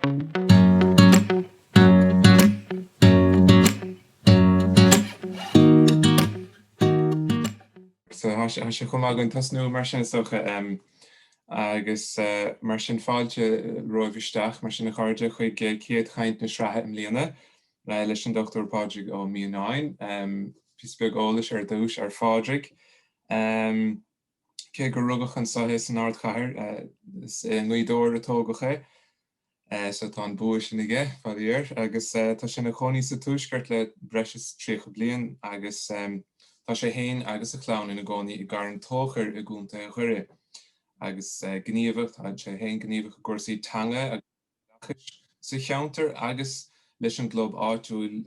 So tá sé chomh maith againn tosnú mar sin is dócha, agus mar sin fáilte romhaibh isteach mar sin a chairde chuig céad chaint na sraithe i mbliana leis an Dr Pádraig Ó Mianáin. Píosa beag eolais ar dtús ar Phádraig. Cé gur rugadh anso é san ardchathair, is i nGaoth Dobhair a tógadh é. Sea, tá an bua sin aige, faraor, agus tá sé ina chónaí sa Tuaisceart le breis is tríocha bliain agus tá sé féin agus a chlann ina gcónaí i gCarn Tóchair i gContae Dhoire. Agus gníomhach, tá sé féin gníomhach i gcúrsaí teanga agus. oideachais sa cheantar agus leis an gclub áitiúil,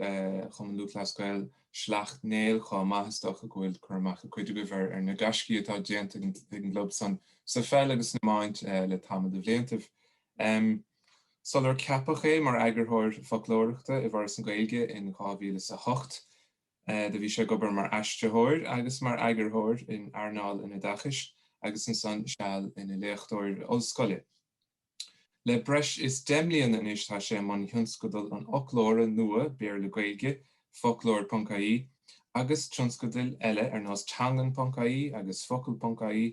Cumann Lúthchleas Gael Shleacht Néill chomh maith. Is dócha go bhfuil cur amach ag cuid agaibh ar na gaiscí atá déanta ag an gclub san sa pheil agus san iomáint le tamall de bhliantaibh. Sular ceapadh é mar eagarthóir foclóireachta i bhForas na Gaeilge in 2008, do bhí sé ag obair mar aistritheoir agus mar eagarthóir in earnáil an oideachais agus ansan seal ina léachtóir ollscoile. Le breis is deich mbliana anois tá sé i mbun thionscadal an fhoclóra nua Béarla-Gaeilge, Foclóir.ie, agus tionscadail eile ar nós Teanglann.ie agus Focal.ie,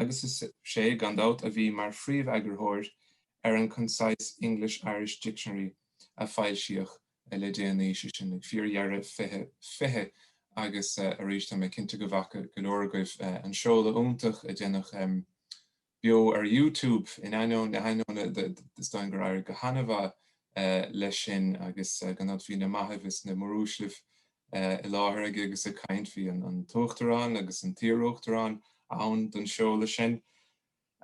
agus is é, gan dabht, a bhí mar phríomheagarthóir ar an Concise English-Irish Dictionary a foilsíodh le déanaí, sé sin, ag fíordheireadh 2020, agus arís, tá mé cinnte go bhfaca go leor agaibh an seoladh iontach a déanadh beo ar YouTube in ainneoin na hainneoine is dóigh gur éirigh go han-mhaith leis sin agus gan dabht bhí na maithibh is na móruaislibh i láthair aige agus ag caint. Bhí an tUachtarán agus an t-iarUachtarán ann don seoladh sin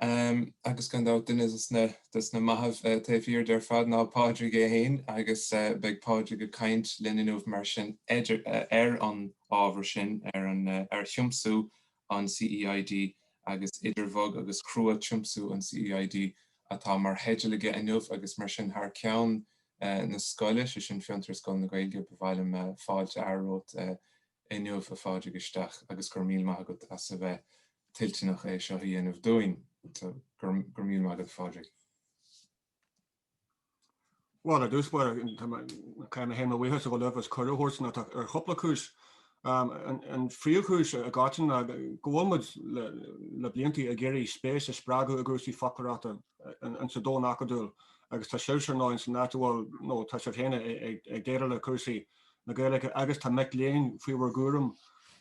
agus gan dabht duine des na maithibh taobh thiar de ar fad ná Pádraig é féin agus beidh Pádraig ag caint linn inniu mar sin ar an ábhar sin, ar thiomsú an CEID agus Idir Bhog agus Chrua, Tiomsú an CEID atá mar theideal aige inniu agus mar sin thar ceann na scoile, sé sin Fiontar agus Scoil na Gaeilge, ba mhaith liom fáilte a fhearadh romhat inniu a Phádraig isteach agus go raibh míle maith agat as a bheith toilteanach é seo a dhéanamh dúinn. Go raibh míle maith agat a Phádraig. Bhuel, ar dtús báire, caithfidh mé féin mo bhuíochas a ghabháil libh as cuireadh a thabhairt domh ar chúpla cúis. An phríomhchúis i gcoitinne ná go bhfuil muid le bliantaí ag iarraidh spéis a spreagadh i gcúrsaí foclóireachta in sa domhan acadúil agus tá sibhse ar ndóigh in san áit a bhfuil, nó tá sibh féin ag déileáil le cúrsaí na Gaeilge agus tá mic léinn faoi bhur gcúram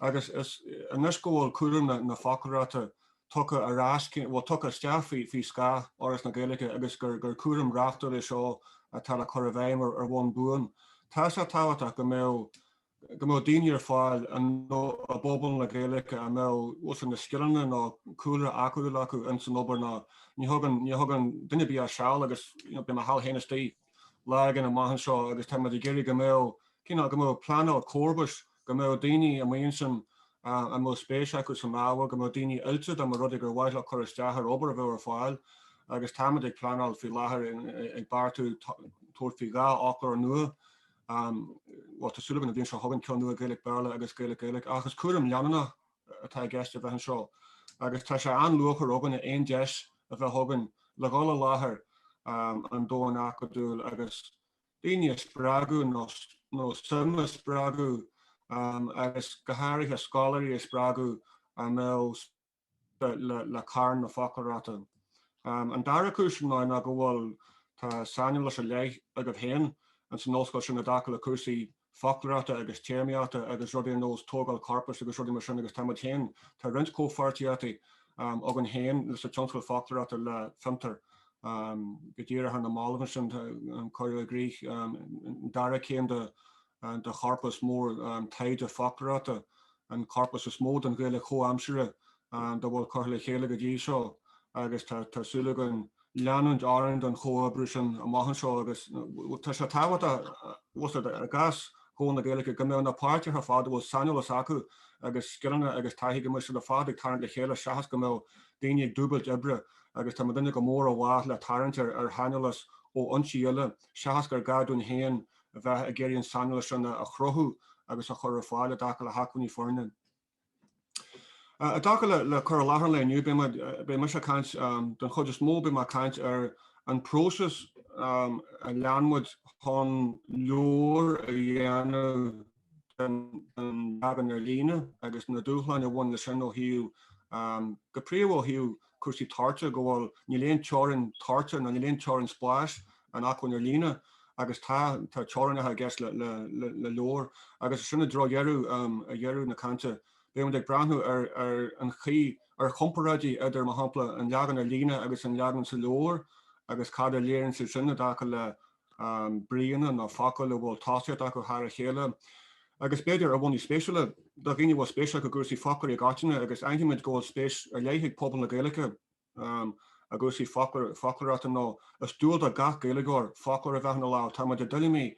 agus is anois go bhfuil cúram na foclóireachta tugtha ar ais, bhuel, tugtha isteach faoi scáth Fhoras na Gaeilge agus gur cúram reachtúil é seo atá le cur i bhfeidhm ar bhonn buan. Tá sé tábhachtach go mbeadh go mbeadh daoine ar fáil i bpobal na Gaeilge a mbeadh, bhuel, sin, na scileanna nó cúlra acadúil acu in san obair nó ní thugann ní thugann duine ar bith ach seal agus, you know, beidh mo sheal féin istigh lá éigin amach anseo agus tá muid ag iarraidh go mbeadh, you know, go mbeadh pleanáil comharbais go mbeadh daoine amuigh ansin a mbeadh spéis acu san ábhar, go mbeadh daoine oilte dá mba rud é gur mhaith leo cur isteach ar obair a bheadh ar fáil agus tá muid ag pleanáil faoi láthair ag beartú tabhairt faoi dhá fhoclóir nua, bhuel tá súil againn an bhliain seo chugainn ceann nua Gaeilge-Béarla agus Gaeilge-Gaeilge ach is cúram leanúnach atá i gceist a bheith anseo agus tá sé an-luachmhar againn a aon deis a bheith againn le dhul i láthair an domhain acadúil agus daoine a spreagadh nó suim a spreagadh agus go háirithe scoláirí a spreagadh maidir le gairm na foclóireachta. An dara cúis ná go bhfuil, tá saineolas ar leith agaibh féin ins an ollscoil sin i dtaca le cúrsaí foclóireachta agus téarmaíochta agus rudaí ar nós tógáil corpais agus rudaí mar sin agus tá muid féin, tá roinnt comhpháirtíochtaí againn féin leis an tionscadal foclóireachta le Fiontar go díreach ar na mallaibh ansin, cuireadh i gcrích an dara céim de chorpas mór taighde foclóireachta, an corpas is mó den Ghaeilge chomhaimseartha dá bhfuil curtha le chéile go dtí seo agus tá súil againn leanúint orainn den chomhoibriú sin amach anseo agus tá sé tábhachtach a úsáid i gcás Chóil na Gaeilge go mbeadh na páirtithe ar fad a bhfuil saineolas acu agus scileanna agus taithí go mbeadh siad ar fad ag tarraingt le chéile seachas go mbeadh daoine ag dúbailt oibre agus tá muidne go mór i bhfách le tarraingt ar shaineolas ó fhoinsí eile seachas gur gá dúinn féin a bheith ag iarraidh an saineolas sin a chruthú agus a chur ar fáil i dtaca le hacmhainní foirne. I dtaca le cur i láthair an lae inniu, beidh mise ag caint, den chuid is mó, beidh mé ag caint ar an bpróiseas a lean muid chun leabhar a dhéanamh den leagan ar líne agus na dúshláin a bhain leis sin ó thaobh, go príomha, ó thaobh cúrsaí toirte go bhfuil, níl aon teorainn toirte nó níl aon teorainn spáis in acmhainn ar líne, agus tá, tá teorainneacha i gceist le leabhar. Agus ansin i dtreo dheireadh, ag deireadh na cainte, beimid ag breathnú ar an chaoi, ar chomparáidí idir, mar shampla, an leagan ar líne agus an leagan sa leabhar agus cad a léiríonn siad sin i dtaca le bríonna nó focail a bhfuil tosaíocht acu thar a chéile, agus b'fhéidir ar bhonnaí spéisiúla, do dhaoine a bhfuil spéis acu i gcúrsaí foclóirí i gcoitinne, agus aithnímid go bhfuil spéis ar leith ag pobal na Gaeilge i gcúrsaí foclóireachta nó is dual do gach Gaeilgeoir foclóir a bheith ina lámh. Tá muid i dtuilleamaí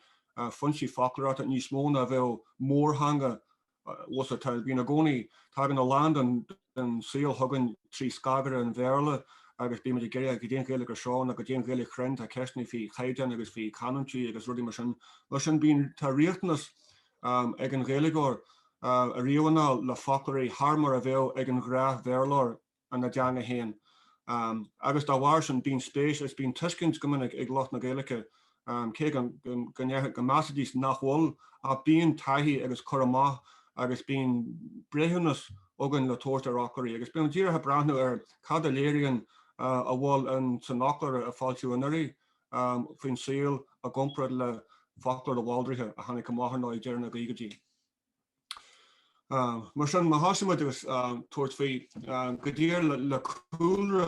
foinsí foclóireachta níos mó ná a bheadh mórtheanga Agus tá, bíonn i gcónaí, tagann a lán den saol chugainn trí scagaire an Bhéarla agus bímid ag iarraidh go dtí an Ghaeilge seo nó go dtí an Ghaeilge chruinn, tá ceisteanna faoi chaighdeán agus faoi chanúintí agus rudaí mar sin. Mar sin bíonn, tá riachtanas ag an Ghaeilgeoir ariamh anall le foclóirí thar mar a bheadh ag an ghnáth-Bhéarlóir ina dteanga féin agus dá bharr sin bíonn spéis agus bíonn tuiscint go minic ag lucht na Gaeilge cé go go measfaidís nach bhfuil ach bíonn taithí agus cur amach agus bíonn breithiúnas againn le tabhairt ar fhoclóirí agus bíonn díreach ag breathnú ar cad a léiríonn a bhfuil in san fhoclóir a foilsíodh anuraidh faoin saol i gcomparáid le foclóir de Bhaldraithe a tháinig amach ar ndóigh ag deireadh na gcaogaidí. Mar sin, má thosaímid agus tabhairt faoi go dtí ar le cúlra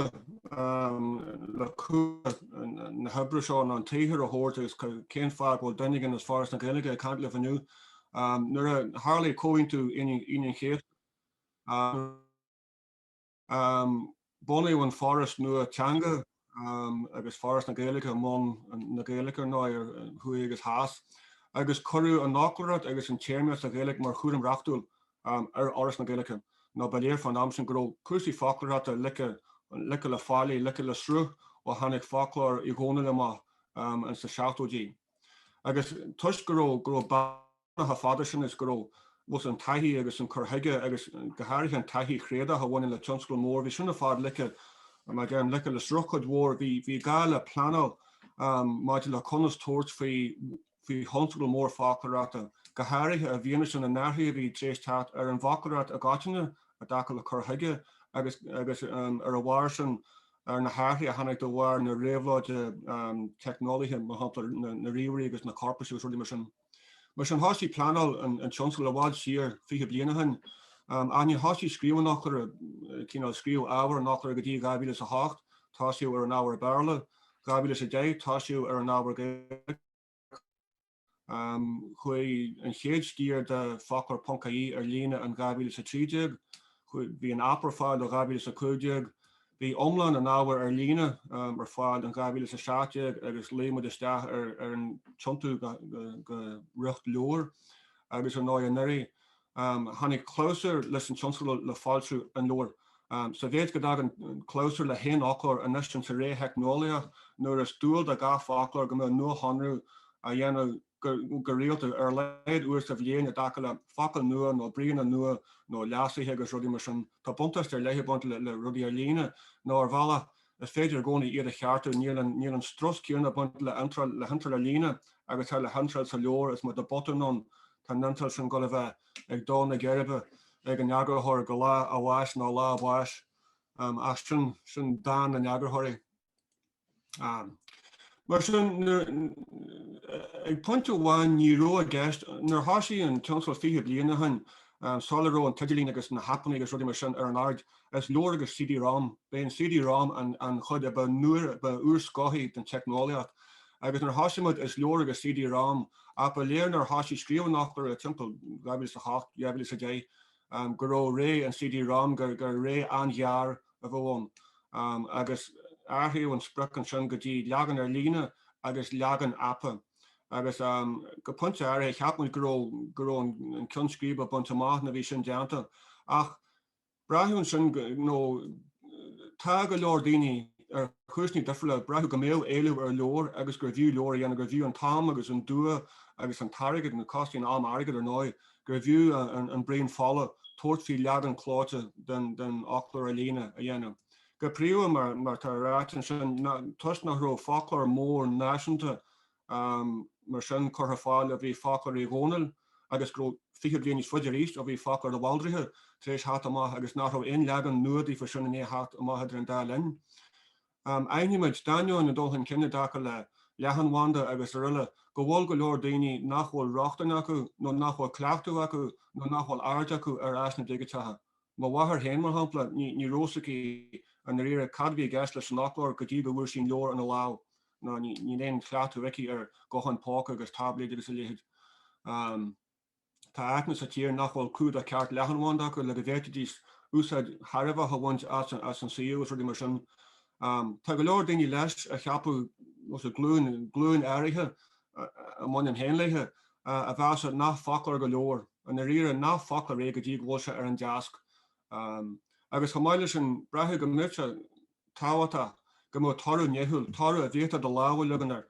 na hoibre seo nó an tsaothair a thabhairt agus cén fáth go bhfuil duine éigin as Foras na Gaeilge ag caint libh inniu, nuair a tharlaigh Comhaontú Aoine an Chéasta, Bunaíodh an Foras nua Teanga agus Foras na Gaeilge i mbun na Gaeilge, ar ndóigh, thuaidh agus theas, agus cuireadh an fhoclóireacht agus an téarmaíocht sa Ghaeilge mar chúram reachtúil ar Fhoras na Gaeilge, nó ba léir faoin am sin go raibh cúrsaí foclóireachta ligthe le faillí, ligthe le sruth, ó tháinig foclóir Uí Dhónaill amach ins na seachtóidí. Agus toisc go raibh chomh fada sin is go raibh agus an taithí agus an cur chuige agus go háirithe an taithí thréadúil a bhaineann le tionscal mór, bhí sin ar fad ligthe, mar a deirim ligthe le sruth cuid mhór, bhí gá le pleanáil maidir le conas tabhairt faoi thionscal mór foclóireachta, go háirithe i bhfianaise na n-athruithe a bhí tar éis teacht ar an bhfoclóireacht i gcoitinne i dtaca le cur chuige agus ar a bharr sin ar na hathruithe a tháinig de bharr na réabhlóide teicneolaíochta, mar shampla na ríomhairí agus na corpais agus rudaí mar sin. Mar sin, thosaigh pleanáil an tionscail i bhfad siar, fiche bliain ó shin. Ach níor thosaigh scríobh an fhoclóra, cineál, scríobh ábhar an fhoclóra, go dtí 2008, tosaíodh ar an ábhar Béarla, 2010, tosaíodh ar an ábhar Gaeilge, chuaigh an chéad sciar de Foclóir ponc-ie ar líne in 2013, bhí an aip ar fáil ó 2015, Bhí iomlán an ábhair ar líne ar fáil in 2017 agus luigh muid isteach ar an tiontú go riocht leabhair agus ar ndóigh anuraidh tháinig clabhsúr leis an tionscadal le foilsiú an leabhair. Sa mhéid go dtagann clabhsúr le haon fhoclóir anois sa ré theicneolaíoch nuair is dual do gach foclóir go mbeadh nuashonrú á dhéanamh go rialta, ar a laghad uair sa bhliain, i dtaca le focail nua nó bríonna nua nó leasuithe agus rudaí mar sin. Tá buntáiste ar leith ag baint le rudaí ar líne, nó ar bhealach, is féidir i gcónaí iad a cheartú. Níl an strus céanna ag baint le hiontráil ar líne agus atá le hiontráil sa leabhar, is má tá botún ann, tá an iontráil sin dhul a bheith ag dó na geirbe ag an eagarthóir go lá a bháis nó lá a báis. Ach sin dán na n-eagarthóirí. ann. Mar sin, ag pointe amháin, ní raibh i gceist, nuair a thosaigh an tionscadal fiche bliain ó shin, sula raibh an t-idirlíon agus na haipeanna agus rudaí mar sin ar an aird, is leabhar agus CD-ROM. B'é an CD-ROM an chuid a ba nua, ba úrscothaí den teicneolaíocht. Agus nuair a thosaigh muid, is leabhar agus CD-ROM, ach ba léir nuair a thosaigh scríobh an fhoclóra timpeall 2008, 2010, go raibh ré an CD Rom, gur ré an-ghearr a bheadh ann, agus athraíodh an sprioc ansin go dtí leagan ar líne agus leagan aipe. Agus go pointe áirithe, cheap muid go raibh go raibh an ceann scríbe bainte amach nuair a bhí sin déanta. Ach braitheadh ansin nó tá go leor daoine, ar chúiseanna difriúla, braitheadh go mbeadh éileamh ar leabhar agus gurbh fhiú leabhar a dhéanamh, gurbh fhiú an t-am agus an dua agus an t-airgead, nó costaíonn am airgead, ar ndóigh, gurbh fhiú an braon fola tabhairt faoi leagan clóite den fhoclóir ar líne a dhéanamh, go príomha, mar atá ráite ansin, toisc nach raibh foclóir mór náisiúnta mar sin curtha ar fáil ó bhí Foclóir Uí Dhónaill agus go raibh fiche bliain níos faide arís ó bhí Foclóir de Bhaldraithe tar éis theacht amach agus nach raibh aon leagan nua daofa sin i ndiaidh theacht amach idir an dá linn. Aithnímid, d'ainneoin an dul chun cinn i dtaca le leathanbhanda agus araile, go bhfuil go leor daoine nach bhfuil rochtain acu, nó nach bhfuil cleachtadh acu, nó nach bhfuil aird acu ar áiseanna digiteacha. Mo mháthair féin, mar shampla, ní raibh 's aici i ndáiríre cad a bhí i gceist leis an fhoclóir go dtí go bhfuair sí an leabhar ina lámh, nó níl aon chleachtadh aici ar ghutháin póca agus táibléid agus a leithéid. Tá áiteanna sa tír nach bhfuil cumhdach ceart leathanbhanda acu le go bhféadfaidís úsáid thairbheach a bhaint as an tsuíomh agus rudaí mar sin. Tá go leor daoine leis a cheapfadh, nó is dóigh glúin, glúin áirithe a mbainim féin léithe, a mheasfadh nach foclóir go leabhar, i ndáiríre, nach foclóir é go dtí go bhfuil sé ar an deasc. Agus chomh maith leis sin, braitheadh go mbeadh sé, tábhachtach go mbeadh toradh nithiúil, toradh a bhféadfá do lámh a leagan air,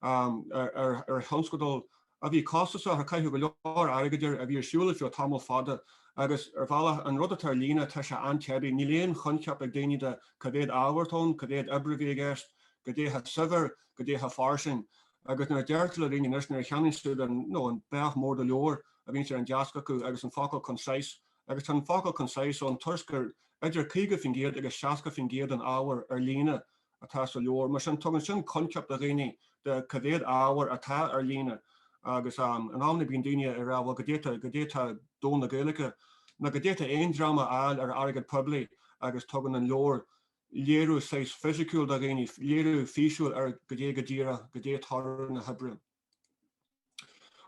ann ar thionscadal a bhí costasach, a caitheadh go leor airgid air, a bhí ar siúl ar feadh tamall fada agus, ar bhealach, an rud atá ar líne, tá sé an-teibí. Níl aon choincheap ag daoine de cá mhéad ábhar atá ann, cá mhéad oibre a bhí i gceist, cad é chomh saibhir, cad é chomh fairsing. Agus nuair a deirtear le daoine anois, nuair a cheannaíonn siad an, an beithíoch mór de leabhar a bhíonn sé ar an deasc acu agus an focal concise agus tá an focal concise ann toisc gur idir 50% agus 60% den ábhar ar líne atá sa leabhar, mar sin tugann sin coincheap do dhaoine de cá mhéad ábhar atá ar líne agus in amanna bíonn daoine ag rá bhuel goidé tá, goidé tá domhan na Gaeilge nó goidé tá aon dream a fháil ar airgead poiblí agus tugann an leabhar léiriú saghas fisiciúil do dhaoine, léiriú físiúil ar goidé go díreach, goidé toradh na hoibre.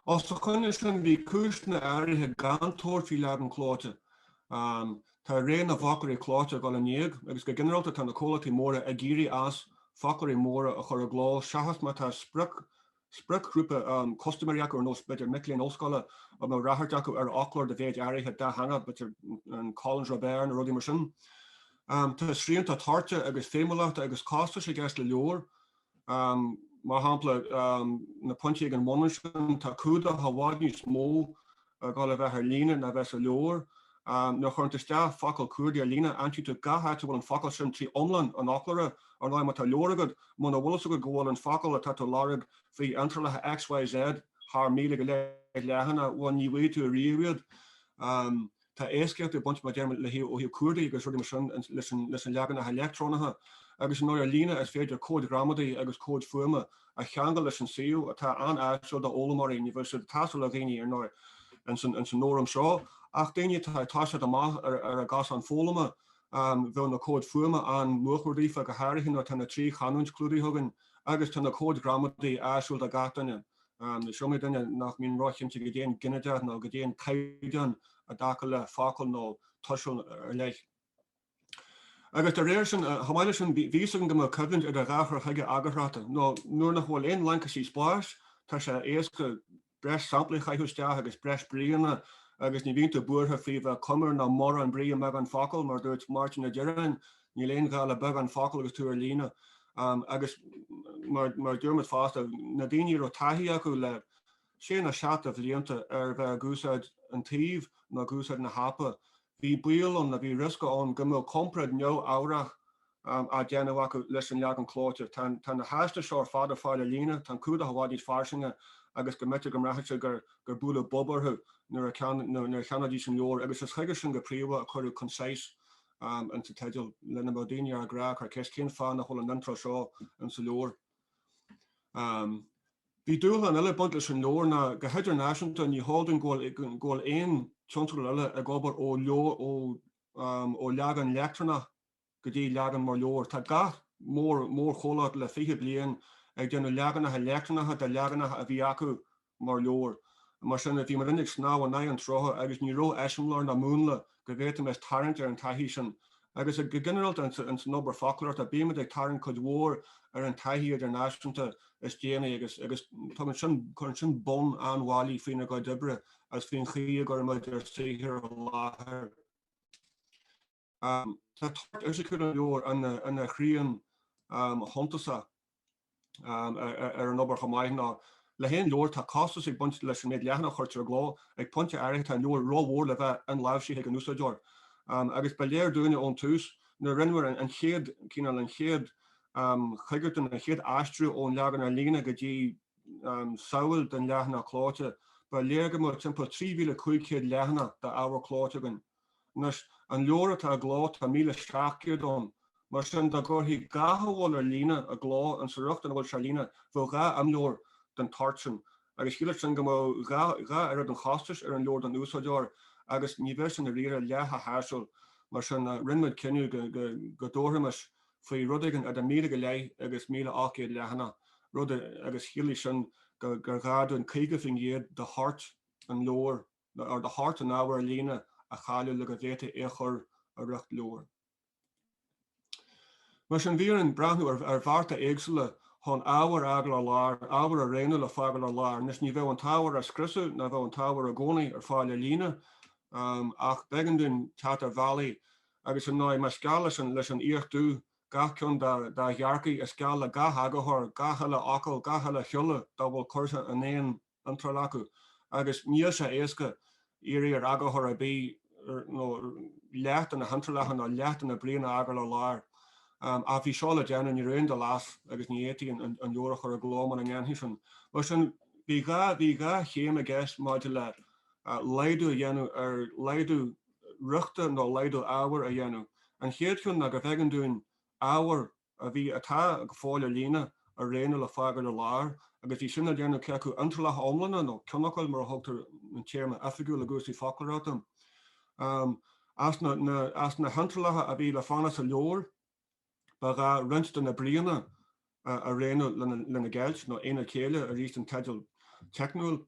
Os a choinne sin, bhí cúiseanna áirithe gan tabhairt faoi leagan clóite. Tá ré na bhfoclóirí clóite ag dul in éag agus go ginearálta tá na comhlachtaí móra ag éirí as foclóirí móra a chur i gcló seachas má tá spriocghrúpa custaiméirí acu ar nós b'fhéidir mic léinn ollscoile a mbeadh ráchairt acu ar fhoclóir de mhéid áirithe dátheangach, b'fhéidir an Collins Robert nó rudaí mar sin. Tá srianta toirte agus feidhmiúlachta agus costais i gceist le leabhair, Mar shampla, na pointí ag an bhun ansin, tá cumhdach i bhfad níos mó ag gabháil a bheith ar líne ná a bheith sa leabhar. Nuair a chuireann tú isteach focal cuardaigh ar líne, aimsíonn tú gach áit a bhfuil an focal sin trí iomlán an fhoclóra, ar ndóigh, má tá leabhar agat, muna bhfuil fhios agat go bhfuil an focal atá tú a lorg faoi iontrálacha XYZ thar míle go leith leathanach, bhuel, ní bhfaighidh tú ariamh iad. Tá éascaíocht ag baint, mar a deirim, le, ó thaobh cuardaigh agus rudaí mar sin leis na leaganacha leictreonacha, agus ar ndóigh ar líne is féidir comhaid ghramadaí agus comhaid fuaime a cheangal leis an suíomh, atá an-áisiúil d'fhoghlaimeoirí, ní bheadh siad ag teastáil ó dhaoine ar ndóigh ins an fhóram seo, ach daoine atá ag toiseacht amach ar a gcosán foghlama, bheadh na comhaid fuaime ina mórchuidiú daofa, go háirithe nuair atá na trí chanúint clúdaithe againn, agus tá na comhaid ghramadaí áisiúil do gach duine. Is iomaí duine nach mbíonn róchinnte goidé an ginideach nó goidé an caighdeán i dtaca le focal nó tuiseal ar leith. Agus dá réir sin, chomh maith leis sin, bhí's againn go mbeadh coimhlint idir dhá chur chuige eagarthóireachta, nó nuair nach bhfuil aon laincisí spáis, tá sé éasca breis samplaí a chaitheamh isteach agus breis bríonna agus ní bhíonn tú buartha faoi bheith comair nó mórán brí i mbeagán focal, mar a dúirt Máirtín Ó Direáin, Níl aon ghá le beagán focal agus tú ar líne. Agus mar a dúirt muid fosta, na daoine a raibh taithí acu le sé nó seacht de bhlianta ar a bheith ag úsáid an tsuímh nó ag úsáid na haipe, bhí baol ann nó bhí riosca ann go mbeadh comparáid neamhfhabhrach á déanamh acu leis an leagan clóite. Tá na háiseanna seo ar fad ar fáil ar líne, tá an cumhdach i bhfad níos fairsinge agus go mb'fhéidir go mbraithfeadh siad gur buaileadh bob orthu nuair a cheannaídís an leabhar, agus is chuige sin go príomha a cuireadh Concise am ins an teideal le nach mbeadh daoine ár gcrá ag cur ceist cén fáth nach bhfuil an iontráil seo ins an leabhar. Bhí dúshlán eile ag baint leis an leabhar ná go hidirnáisiúnta ní heol dúinn go bhfuil aon tionscadal eile ag obair ó ó leagan leictreonach go dtí leagan mar leabhar. Tá gach mór mórchomhlacht le fiche bliain ag déanamh leaganacha leictreonacha de leaganacha a bhí acu mar leabhar. Mar sin, bhíomar uilig ag snámh in aghaidh an tsrutha agus ní raibh eiseamláir ná múnla go bhféadfaimis tarraingt ar an taithí sin. Agus go ginearálta insan obair foclóireachta, bímid ag tarraingt cuid mhór ar an taithí idirnáisiúnta is déanaí agus tugann sin, cuireann sin bonn an-bhailí faoinár gcuid oibre agus faoin chaoi a gcuirimid ár saothar i láthair. Tá toirt fhisiciúil an leabhair ina shrian shuntasach ar an obair chomh maith ná le haon leabhar tá costas ag baint leis an méid leathanach a chuirtear i gcló. Ag pointe áirithe tá an leabhar ró-mhór le bheith inláimhsithe ag an úsáideoir. Agus ba léir dúinne ón tús nuair a rinneamar an chéad cineál, an chéad choigeartú nó an chéad aistriú ón leagan ar líne go dtí samhail den leathanach clóite, ba léir go mbeadh timpeall 3,500 leathanach d'ábhar clóite againn. Anois, an leabhar atá i gcló, tá 1,700 ann, mar sin dá gcuirfí gach a bhfuil ar líne i gcló insa riocht ina bhfuil sé ar líne, bheadh dhá imleabhar den toirt sin, agus chiallódh sin go mbeadh dhá dhá oiread an chostais ar an leabhar don úsáideoir, agus ní bheadh sin i ndáiríre leath chomh háisiúil, mar sin rinne muid cinneadh go go dtabharfaimis faoi rud éigin idir míle go leith agus 1,800 leathanach, rud agus chiallódh sin gur ghá dúinn 50% de thoirt an leabhair a nó ar de thoirt an ábhair ar líne a chailleadh le go bhféadfaí é a chur i riocht leabhair. Mar sin, bhí orainn breathnú ar bhearta éagsúla chun ábhar a fhágáil ar lár, ábhar a rianadh le fágáil ar lár. Anois, ní bheadh an t-ábhar á scriosadh, ná bheadh an t-ábhar i gcónaí ar fáil ar líne, ach b'éigean dúinn teacht ar bhealaí agus, ar ndóigh, más geal leis an fhiach dubh gach ceann dá ghearrcaigh, is geal le gach eagarthóir, gach uile fhocal, gach uile shiolla dá bhfuil curtha in aon iontráil acu agus níl sé éasca iarraidh ar eagarthóir ar bith leath de na hiontrálacha nó leath de na bríonna a fhágáil ar lár. Ach bhí seo le déanamh, ní raibh aon dul as agus ní fhéadfaí an leabhar a chur i gcló mura ndéanfaí sin. Mar sin, bhí dhá, bhí dhá chéim i gceist maidir le laghdú a dhéanamh ar laghdú riochta nó laghdú ábhair a dhéanamh. An chéad cheann ná gurbh éigean dúinn ábhar a a bhí, atá go fóill ar líne a rianadh le fágáil ar lár, agus bhí sin á déanamh cé acu iontrálacha iomlána nó ceannfhocail, mar a thugtar an téarma oifigiúil i gcúrsaí foclóireachta. As na hiontrálacha a bhí le fanacht sa leabhar ba ghá roinnt de na bríonna a rianadh lena gceilt, nó aonaid chéille, arís an teideal teicniúil.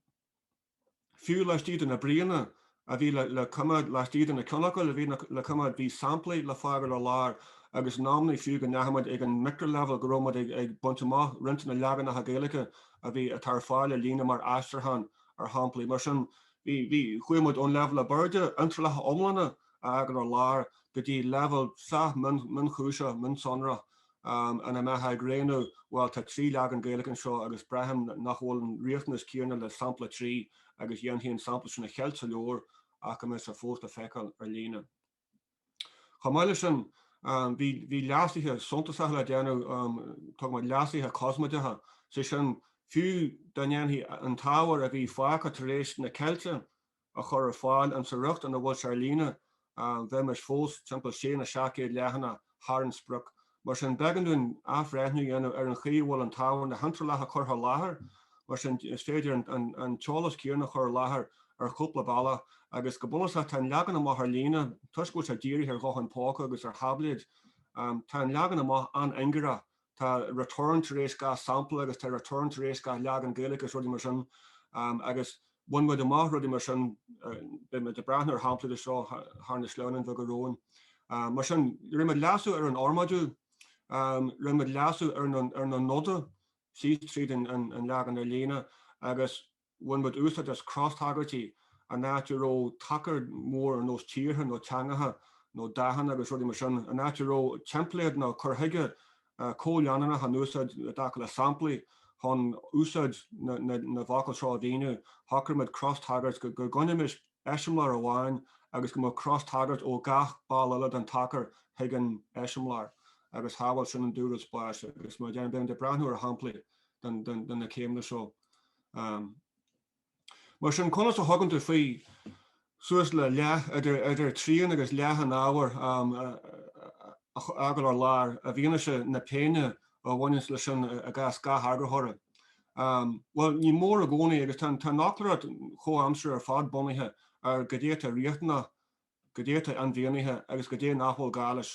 fiú laistigh de na bríonna a bhí le coimeád laistigh de na ceannfhocail a bhí le coimeád. Bhí samplaí le fágáil ar lár agus in amannaí fiú go ndeachaigh muid ag an micrileibhéal go raibh muid ag baint amach roinnt de na leaganacha Gaeilge a bhí atá ar fáil ar líne mar aistriúchán ar shamplaí mar sin. Bhí chuaigh muid ón leibhéal ab airde, iontrálacha iomlána a fhágáil ar lár, go dtí leibhéal sách mionchúiseach, mionsonrach ina mbeifeá ag rianú? Bhuel, tá trí leagan Gaeilge anseo agus braithim nach bhfuil an riachtanas céanna le sampla 3 agus dhéanfaí an sampla sin a cheilt sa leabhar ach go mbeadh sé fós le feiceáil ar líne. Chomh maith leis sin, bhí leasuithe suntasacha le déanamh, tugann muid leasuithe cosmaideacha, sé sin, fiú dá ndéanfaí an t-ábhar a bhí fágtha tar éis na ceilte a chur ar fáil insa riocht ina bhfuil sé ar líne bheimis fós timpeall sé nó seacht gcéad leathanach thar an sprioc. Mar sin, b'éigean dúinn athbhreithniú a dhéanamh ar an chaoi a bhfuil an t-ábhar, na hiontrálacha curtha i láthair. Mar sin, is féidir an t-eolas céanna a chur i láthair ar chúpla bealach. Agus go bunúsach, tá an leagan amach ar líne, toisc go bhfuil sé dírithe ar ghutháin póca agus ar tháibléid, tá an leagan amach an-ingearach Tá return tar éis gach sampla agus tá return tar éis gach leagan Gaeilge is rudaí mar sin agus bhain muid amach rudaí mar sin, beidh muid ag breathnú ar shamplaí de seo thar na sleamhnáin bheaga romhainn. Mar sin, rinne muid leasú ar an fhormáidiú, rinne muid leasú ar na noda síos tríd an leagan ar líne agus bhain muid úsáid as cros-tagairtí in áit a raibh tacar mór ar nós tíortha nó teangacha nó dathanna agus rudaí mar sin. In áit a raibh teimpléad nó cur chuige comhleanúnach in úsáid i dtaca le samplaí chun úsáid na bhfocal seo a mhíniú, shocraigh muid cros-tagairt go gcoinnimis. eiseamláir amháin agus go mbeadh cros-tagairt ó gach ball eile den tacar chuig an eiseamláir agus shábháil sin an dúrud spáis agus mar a deirim, beidh muid ag breathnú ar shamplaí de na céimeanna seo. Mar sin, conas a thugann tú faoi suas le leath, idir trian agus leath an ábhair a fhágáil ar lár i bhfianaise na péine a bhaineas leis sin i gcás gach eagarthóra? Bhuel, ní mór i gcónaí, agus tá an fhoclóireacht chomhaimseartha ar fad bunaithe ar cad é atá riachtanach, cad é atá inmhianaithe agus cad é nach bhfuil gá leis.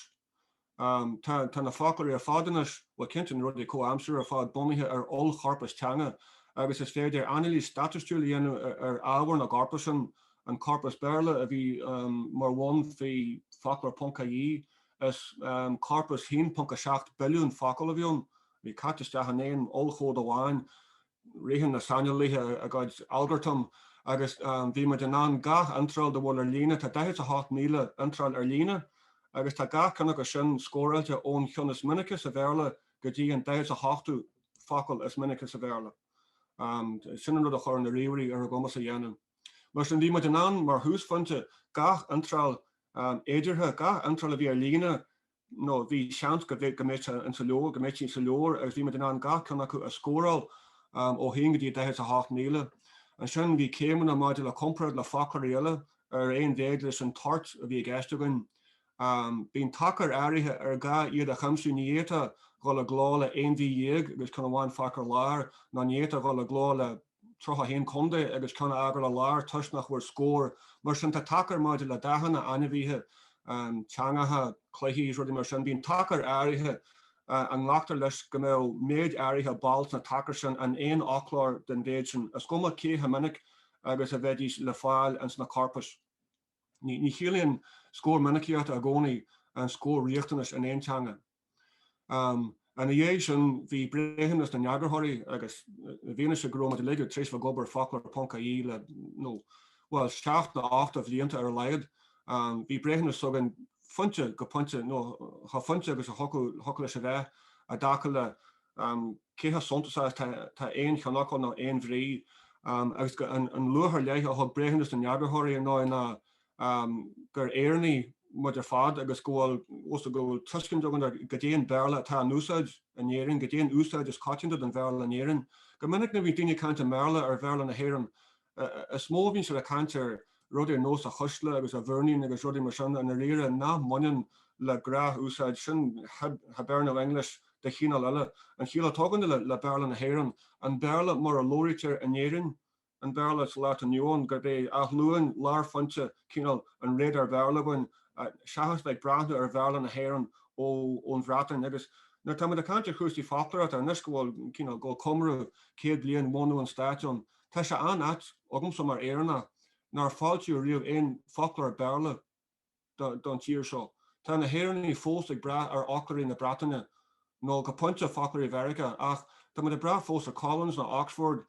Tá na foclóirí ar fad anois, bhuel, cinnte na rudaí comhaimseartha ar fad, bunaithe ar oll-chorpas teanga, agus is féidir anailís staitistiúil a dhéanamh ar ábhar na gcorpas sin, an corpas Béarla a bhí mar bhonn faoi foclóir.ie, is corpas 1.7 billiún focal a bhí ann. bhí caite isteach in aon ollchomhad amháin, ritheann na saineolaithe a gcuid algartam agus bhí muid in ann gach iontráil dá bhfuil ar líne, tá 48,000 iontráil ar líne, agus tá gach ceann acu sin scóráilte ón cheann is minice sa Bhéarla go dtí an 48ú focal is minice sa Bhéarla. Sin an rud a chuir na ríomhairí ar ár gcumas a dhéanamh. Mar sin, bhí muid in ann, mar thúsphointe, gach iontráil fhéideartha, gach iontráil a bhí ar líne, nó bhí seans go mbeadh an sa leabhar, go mbeadh siad sa leabhar agus bhí muid in ann gach ceann acu a scóráil ó haon go dtí daichead is a hocht míle. Ansin bhí céimeanna maidir le comparáid le foclóirí eile ar aon mhéid leis an toirt a bhí i gceist againn. Bíonn tacair áirithe ar gá iad a chuimsiú, ní fhéadfá dhul i gcló le aon mhí dhéag agus ceann amháin fágtha ar lár, ná ní fhéadfá dhul i gcló le. 31 contae agus ceann a fhágáil ar lár toisc nach bhfuair scór mar sin. Tá tacair maidir le dathanna, ainmhithe, teangacha, cluichí is rudaí mar sin. Bíonn tacair áirithe a nglactar leis go mbeadh méid áirithe ball sna tacair sin in aon fhoclóir den mhéid sin, is cuma cé chomh minic agus a bheidís le fáil ins na corpais. Ní chiallaíonn scór minicíochta i gcónaí an scór riachtanais in aon teanga. Ina dhiaidh sin, bhí breithiúnas na n-eagarthóirí agus i bhfianaise go raibh muid uilig tar éis bheith ag obair ar foclóir ponc ie le, nó, bhuel, seacht nó ocht de bhlianta ar a laghad, bhí breithiúnas againn fuinte go pointe, nó chomh fuinte agus a thiocfadh leis a bheith, i dtaca le cé chomh suntasach is atá aon cheannfhocal nó aon bhrí, agus an luach ar leith a thug breithiúnas na n-eagarthóirí ar ndóigh ná gur Éireannaigh muid ar fad agus go bhfuil tuiscint againn ar goidé an Béarla atá in úsáid in Éirinn, goidé an úsáid is coitianta den Bhéarla in Éirinn. Go minic nuair a bhíonn daoine ag caint i mBéarla ar Bhéarla na hÉireann, is mó a bhíonn siad ag caint ar rudaí ar nós a chuisle agus a mhúirnín agus rudaí mar sin i ndáiríre nach mbaineann le gnáthúsáid, sin Hiberno English de chineál eile. An chiall atá againne le Béarla na hÉireann, an Béarla mar a labhraítear in Éirinn, an Béarla sa lá atá inniu ann, gurb é Áth Luain lárphointe cineál an radar-Bhéarla againn, seachas bheith ag breathnú ar Bhéarla na hÉireann ón Bhreatain. Agus nuair atá muid ag caint ar chúrsaí foclóireachta, anois go bhfuil, cineál, go bhfuil comóradh céad bliain bhunú an Stáit ann, tá sé an-ait agamsa mar Éireannach nár foilsíodh riamh aon foclóir Béarla. don tír seo. Tá na hÉireannaigh fós ag brath ar fhoclóirí na Breataine, nó go pointe, foclóirí Mheiriceá, ach tá muid ag brath fós ar Collins nó Oxford,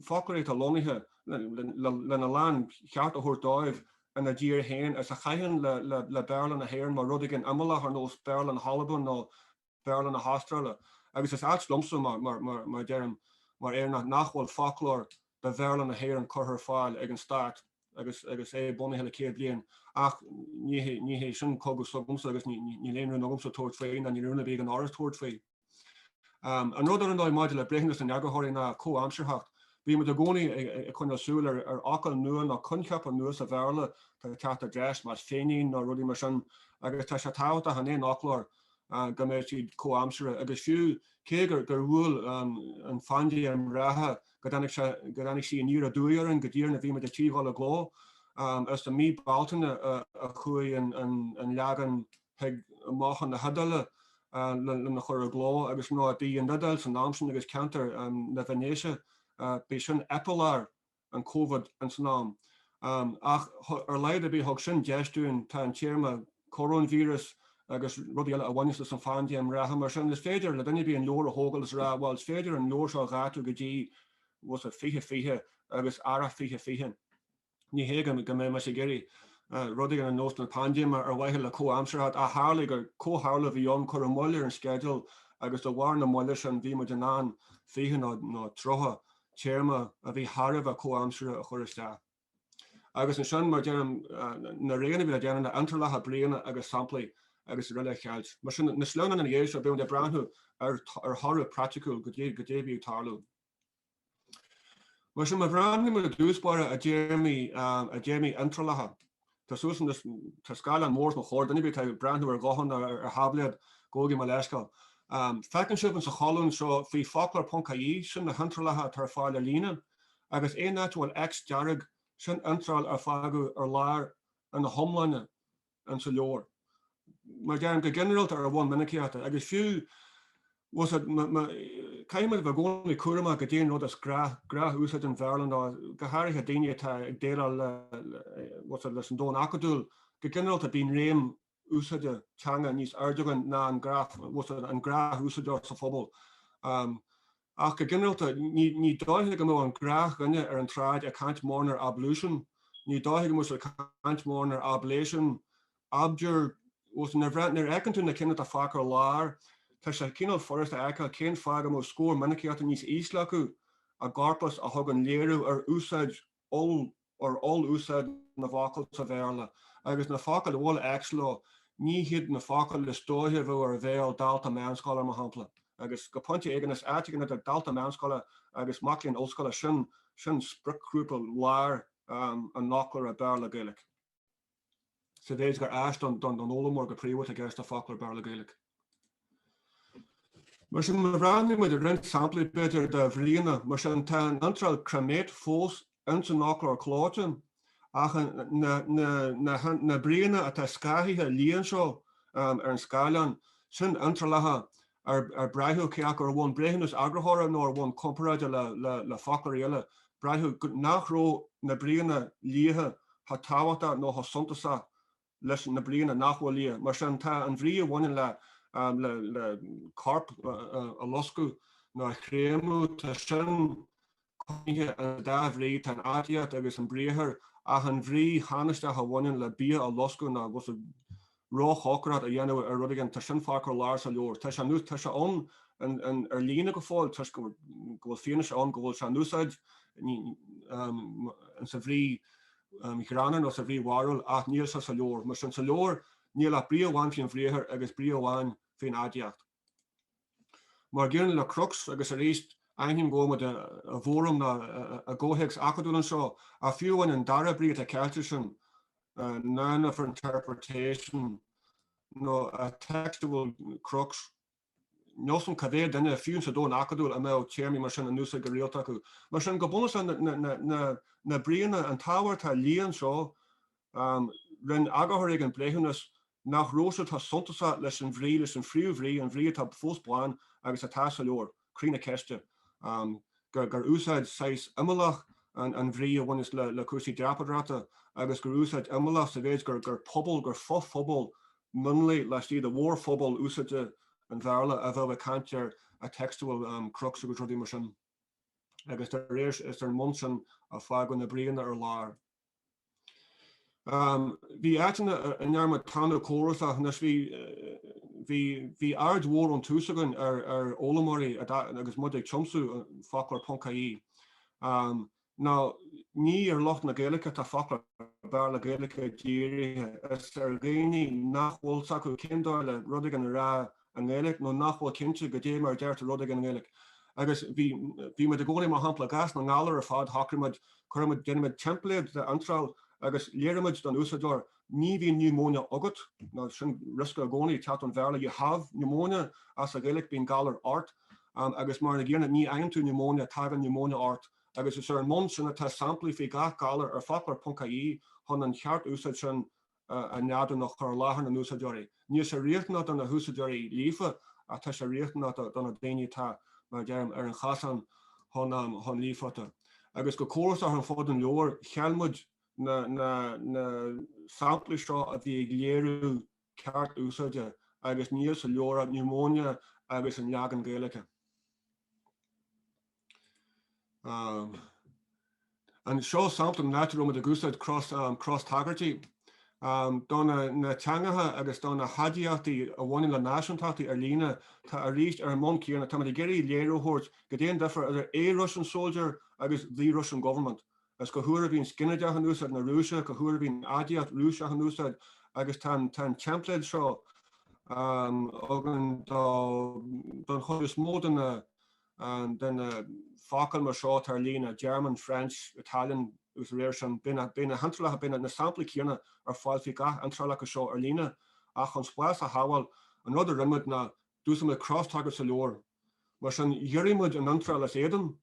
foclóirí atá lonnaithe, lena láncheart a thabhairt dóibh, ina dtír féin is a chaitheann le Béarla na hÉireann mar rud éigin imeallach ar nós Béarla na hAlban nó Béarla na hAstráile, agus is ait liomsa, mar a deirim, mar Éireannach, nach bhfuil foclóir de Bhéarla na hÉireann curtha ar fáil ag an stát agus é bunaithe le céad bliain. Ach ní hé sin cogadh s'agamsa, agus níl aon rún agamsa tabhairt faoi, ná níl rún ar bith ag an Fhoras tabhairt faoi. An rud, ar ndóigh, maidir le breithiúnas na n-eagarthóirí ná comhaimsearthacht. Bímid i gcónaí ag coinneáil súil ar fhocail nua nó coincheapa nua sa Bhéarla atá ag teacht i dtreis, mar féinín nó rudaí mar sin, agus tá sé tábhachtach in aon fhoclóir go mbeidh siad comhaimseartha, agus fiú, cé gur bhuail an phaindéim reatha, go dtáinig sí aniar aduaidh orainn, go díreach nuair a bhí muid ar tí dhul i gcló. Is i mí Bealtaine a chuaigh an leagan chuig mach na hIodáile lena chur i gcló, agus ba í an Iodáil san am sin agus ceantar na Veinéise, b'í sin eipealár an Covid in san am. Ach ar a laghad ar bith thug sin deis dúinn, tá an téarma coróinvíreas agus rudaí eile a bhaineas leis an phaindéim reatha, mar sin is féidir le duine ar bith an leabhar a thógáil is a rá bhuel is féidir an leabhar seo a dhátú go dtí bhuel sa 2020 agus Earrach 2020. Ní hé go mbeidh mise ag iarraidh rudaí ar nós na paindéime ar mhaithe le comhaimsearthacht ach tharlaigh gur comhtharlú a bhí ann, cuireadh moill ar an sceideal agus de bharr na moille sin bhí muid in ann 20 nó 30 téarma a bhí thar a bheith comhaimseartha a chur isteach. Agus ansin, mar a deirim, na roghanna a bhí le déanamh, na hiontrálacha bríonna agus samplaí srl. a cheilt. Mar sin, na sleamhnáin ina dhiaidh seo, beidh muid ag breathnú ar thoradh praiticiúil goidé a bhí ag tarlú. Mar sin, má bhreathnaímid ar dtús báire ar théarmaí, ar théarmaí iontrálacha Tá súil agam, tá scáileán mór os mo chomhair, duine a bith atá ag breathnú ar ghuthán nó ar tháibléad, gabhaigí mo leithscéal. Feiceann sibh in sa cholún seo faoi Foclóir ponc ie sin na hiontrálacha atá ar fáil ar líne, agus aon áit a bhfuil X dearg, sin iontráil a fágadh ar lár ina hiomláine in sa leabhar. Mar deirim, go ginearálta ar bhonn minicíochta, agus fiú, bhuel caithfidh muid a bheith i gcónaí cúramach go dtéann rud as gnáthúsáid an Bhéarla nó go háirithe daoine atá ag déileáil leis an domhan acadúil go ginearálta, bíonn réim úsáide teanga níos airde againn ná an gnáthúsáideoir sa phobal. Ach go ginearálta, ní dóigh go mbeadh an gnáthdhuine ar an tsráid ag caint mórán ar ablution, ní dóigh go mbeadh siad ag caint mórán ar ablation, abjure, agus b'fhéidir nuair a fheiceann tú na cinn atá fágtha ar lár, tá sé cineál furasta a fheiceáil cén fáth go mbeadh scór minicíochta níos ísle acu i gcorpas a thugann léiriú ar úsáid ar oll-úsáid na bhfocal sa Bhéarla, agus na focail a bhfuil X leo, ní hiad na focail is dóichí a bheadh ar bhéal dalta meánscoile, mar shampla. Agus go pointe éigin, is áit éigin idir dalta meánscoile agus mac léinn ollscoile, sin spriocghrúpa láir an fhoclóra Béarla-Gaeilge. sa mhéid gur áis don fhoghlaimeoir go príomha atá i gceist le foclóir Béarla-Gaeilge. Mar sin, má bhreathnaíonn muid ar roinnt samplaí b'fhéidir de bhríonna, mar sin, tá an iontráil cremate fós ins an fhoclóir clóite, ach na bríonna atá scáthaithe liath anseo ar an scáileán, sin iontrálacha ar braitheadh cé acu ar bhonn breithiúnas eagarthóra nó ar bhonn comparáide le foclóirí eile, braitheadh nach raibh na bríonna liatha chomh tábhachtach nó chomh suntasach leis na bríonna nach bhfuil liath. Mar sin, tá an bhrí a bhaineann le corp a loscadh nó a chréamadh, tá sin. coinnithe, an dá bhrí, tá an aidiacht agus an briathar, ach an bhrí thánaisteach a bhaineann le bia a loscadh nó róchócaireacht a dhéanamh ar rud éigin, tá sin fágtha ar lár sa leabhar. Tá sé, anois, tá sé ann ar líne go fóill toisc go bhfuil fianaise ann go bhfuil sé in úsáid insa bhrí ghreannmhar nó sa bhrí bharrúil, ach níl sé sa leabhar. Mar sin, sa leabhar, níl ach brí amháin faoin bhriathar agus brí amháin faoin aidiacht. Mar an gcéanna le crux, agus arís, aithním go bhfuil muid i bhfóram nó i gcomhthéacs acadúil anseo, ach fiú amháin an dara brí atá ceilte ansin, none of her interpretation nó a textual crux, níl a fhios agam cá mhéad duine, fiú sa domhan acadúil, a mbeadh téarmaí mar sin in úsáid go rialta acu. Mar sin, go bunúsach, na bríonna, an t-ábhar atá liath anseo, Rinne eagarthóirí an breithiúnas nach raibh siad chomh suntasach leis an bhrí, leis an phríomhbhrí, an bhrí atá fós bán agus atá sa leabhar, Croí na Ceiste, gur úsáid saghas imeallach an bhrí a bhaineas le cúrsaí dreapadóireachta agus gur úsáid imeallach sa mhéid gur pobal, gur fo-phobal mionlaigh laistigh de mhórphobal úsáide an Bhéarla a bheadh ag caint ar textual crux agus rudaí mar sin. Agus arís is ar an mbonn sin a fágadh na bríonna ar lár. Bhí áiteanna a ndearna muid tanú córasach anois bhí aird mhór ón tús againn ar fhoghlaimeoirí agus muid ag tiomsú foclóir ponc IE. Nó ní ar lucht na Gaeilge atá foclóir Béarla Gaeilge dírithe, is ar dhaoine nach bhfuil a fhios acu cén dóigh le rud éigin a rá i nGaeilic, nó nach bhfuil cinnte goidé mar a deirtear rud éigin i nGaeilic. Agus bhí, bhí muid i gcónaí, mar shampla, i gcás na ngalar ar fad, shocraigh muid, cuirfidh muid, déanfaidh muid teimpléad de iontráil agus léireoidh muid don úsáideoir, ní bhíonn niúmóine agat, nó sin riosca i gcónaí ag teacht ón Bhéarla, you have pneumonia ach sa Ghaeilic, bíonn galar ort, agus mar an gcéanna, ní fhaigheann tú niúmóine, tagann niúmóine ort. Agus is ar an mbonn sin atá samplaí faoi gach galar ar foclóir ponc IE, chun an cheart úsáid sin a neadú nó a chur i láthair na n-úsáideoirí. Níl sé riachtanach do na húsáideoirí líofa ach tá sé riachtanach do na daoine atá, mar a deirim, ar an chasán chun líofachta. Agus go córasach ar fud an leabhair, cheil muid na samplaí seo a bhí ag léiriú ceart úsáide agus níl sa leabhar ach pneumonia agus an leagan Gaeilge. Anseo sampla eile áit a raibh muid ag úsáid cros-tagairtí do na teangacha agus do na haidiachtaí a bhaineann le náisiúntachtaí ar líne. Tá arís ar an mbonn céanna, táimid ag iarraidh léiriú a thabhairt cad é an difear idir A Russian soldier agus The Russian government, is cá huair a bhíonns ginideach in úsáid na Rúise, cá huair a bhíonn aidiacht Rúiseach in úsáid, agus tá an teimpléad seo againn don chuid is mó de na de na focail mar seo atá ar líne, German, French, Italian agus dá réir sin, beidh na hiontrálacha, beidh na samplaí céanna ar fáil faoi gach iontráil acu seo ar líne. Ach chun spás a shábháil, an rud a rinne muid ná d'úsáid muid crosstagairt sa leabhar. Mar sin, ghiorraigh muid an iontráil is éadan,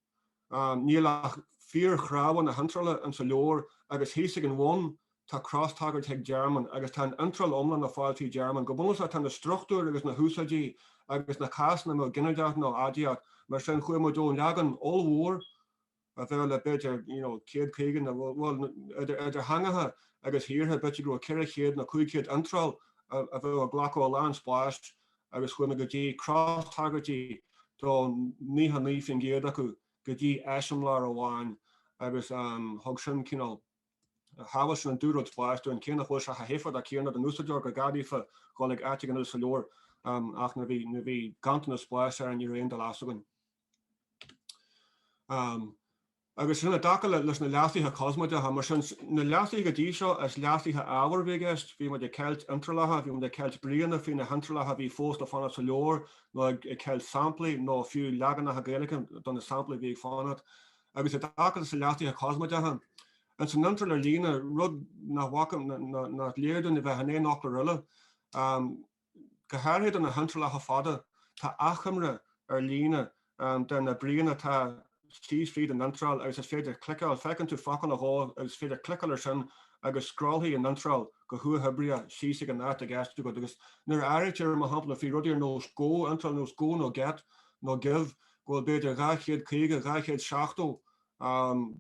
níl ach fíorchnámha na hiontrála insa leabhar, agus thíos ag an bhun, Tá cros-tagairt ag German, agus tá an iontráil iomlán le fáil faoi German. Go bunúsach, tá na struchtúir agus na húsáidí agus na cásanna, nó ginideach nó aidiacht, mar sin, chuaigh muid ón leagan ollmhór a bheadh le, b'fhéidir, you know, céad caoga nó, bhuel, idir theangacha agus thíortha, b'fhéidir go raibh ceithre chéad nó cúig chéad iontráil a bheadh ag glacadh a lán spáis, agus chuaigh muid go dtí cros-tagairtí do naocha naoi faoin gcéad acu, go dtí eiseamláir amháin, agus thug sin cineál. shábháil sin an dúrud spáis dúinn, cé nach bhfuil sé chomh héifeachtach céanna don úsáideoir, gur gá daofa dhul ag áit éigin eile sa leabhar, ach nuair a bhí ganntanas spáis orainn ní raibh aon dul as againn. Agus sin i dtaca leis na leasuithe cosmaideacha, mar sin na leasuithe go dtí seo is leasuithe ábhair a bhí i gceist, bhí muid ag ceilt iontrálacha, bhí muid ag ceilt bríonna faoi na hiontrálacha a bhí fós le fanacht sa leabhar, nó ag ceilt samplaí nó fiú leaganacha Gaeilge de na samplaí a bhí ag fanacht. agus i dtaca leis na leasuithe cosmaideacha, ins an iontráil ar líne, rud nach bhfaca, ná nach léir dúinn a bheith in aon fhoclóir eile. Go háirithe do na hiontrálacha fada, tá achoimre ar líne de na bríonna atá síos fríd an iontráil agus is féidir cliceáil, feiceann tú focal nó dhó agus is féidir cliceáil ar sin agus scrollfaidh an iontráil go huathoibríoch síos ag an áit i gceist agat agus nuair a áirítear, mar shampla, faoi rudaí ar nós 'go', iontráil ar nós 'go' nó 'get' nó 'give', go bhfuil b'fhéidir 250, 270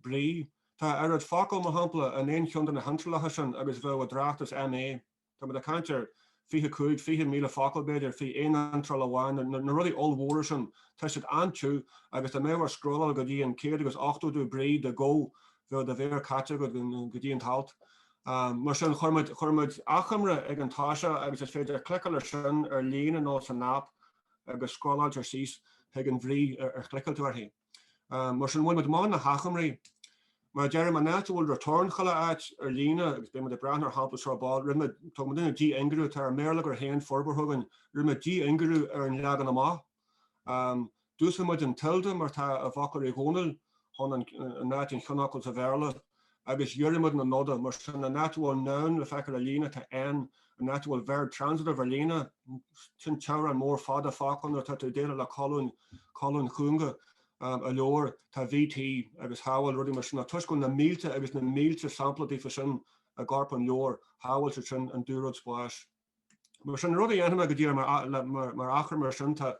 brí. Tá a oiread focal, mar shampla, in aon cheann de na hiontrálacha sin agus a bheadh i dtráchtas MA. Táimid ag caint ar fiche cúig, fiche míle focal, b'fhéidir, faoi aon iontráil amháin. Na rudaí ollmhóra sin, tá siad an-tiubh agus dá mbeadh ort scrolláil go dtí an céad agus ochtódú brí de go, bheadh do mhéar caite agat go dtí an t-alt. Mar sin, chuir muid achoimre ag an toiseach agus is féidir cliceáil air sin ar líne nó san aip. agus scrollálfar síos chuig an bhrí ar chliceáil tú uirthi. Mar sin, bhain muid amach na hachoimrí. Mar a deirim, an áit a bhfuil return chuile áit ar líne agus beidh muid ag breathnú ar shampla seo ar ball. Rinne muid, tugann muidne dí-ingearú, tá ár mbéarlagair féin forbartha againn, rinne muid dí-ingearú ar an leagan amach. D'úsáid muid an tilde mar atá i bhfoclóir Uí Dhónaill chun, in áit an cheannfhocail sa Bhéarla agus ghiorraigh muid na noda, mar sin, an áit a bhfuil noun le feiceáil ar líne, tá N, an áit a bhfuil verb transitive ar líne, sin teaghráin mhóra fhada focal nuair atá tú ag déileáil le colúin, colúin chúnga, i leabhar, tá VT agus shábháil, rudaí mar sin, ach toisc go bhfuil na mílte agus na mílte sampla díobh sin i gcorp an leabhair, shábháil siad sin an dúrud spáis. Mar sin, an rud a dhéanfaidh mé go díreach mar, mar, mar achar mar sin, tá,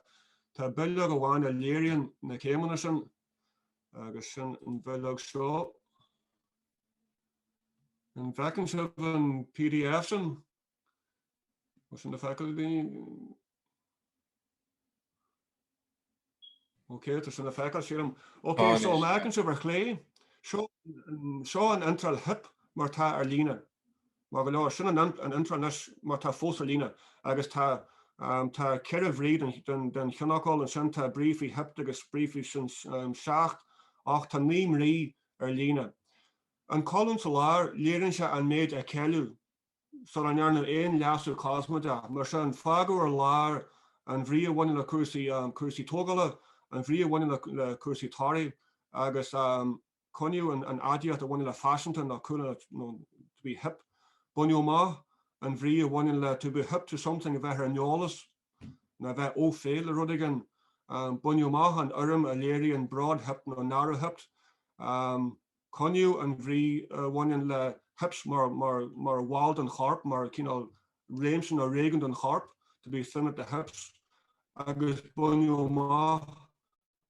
tá bileog amháin a léiríonn na céimeanna sin, Agus sin an bhileog seo. An bhfeiceann sibh an pdf sin? Bhfuil sin le feiceáil agaibh? Ok, tá sin le feiceáil sílim. Ok, so má fheiceann sibh ar chlé? Seo an iontráil hip mar tá ar líne. Maith go leor, sin an iontráil anois mar atá fós ar líne. Agus tá tá ceithre bhrí don cheannfhocal, ansin tá brí faoi hipped agus brí faoi sin, seacht, ach tá naoi mbrí ar líne. An colún sa lár, léiríonn sé an méid a ceileadh sula ndearnadh aon leasú cosmaideach, mar sin, fágadh ar lár an bhrí a bhaineann le cúrsaí cúrsaí tógála, an bhrí a bhaineann le cúrsaí torthaí agus an Coinníodh an aidiacht a bhaineann le faiseanta nó cool nó to be hip. Baineadh amach an bhrí a bhaineann le to be hip to something a bheith ar an eolas nó a bheith au fait le rud éigin. Baineadh amach an fhoirm a léiríonn broad-hipped nó narrow-hipped. Coinníodh an bhrí a bhaineann le hips mar bhall den chorp, mar chineál réimse nó réigiún den chorp, to be thin at the hips, agus baineadh amach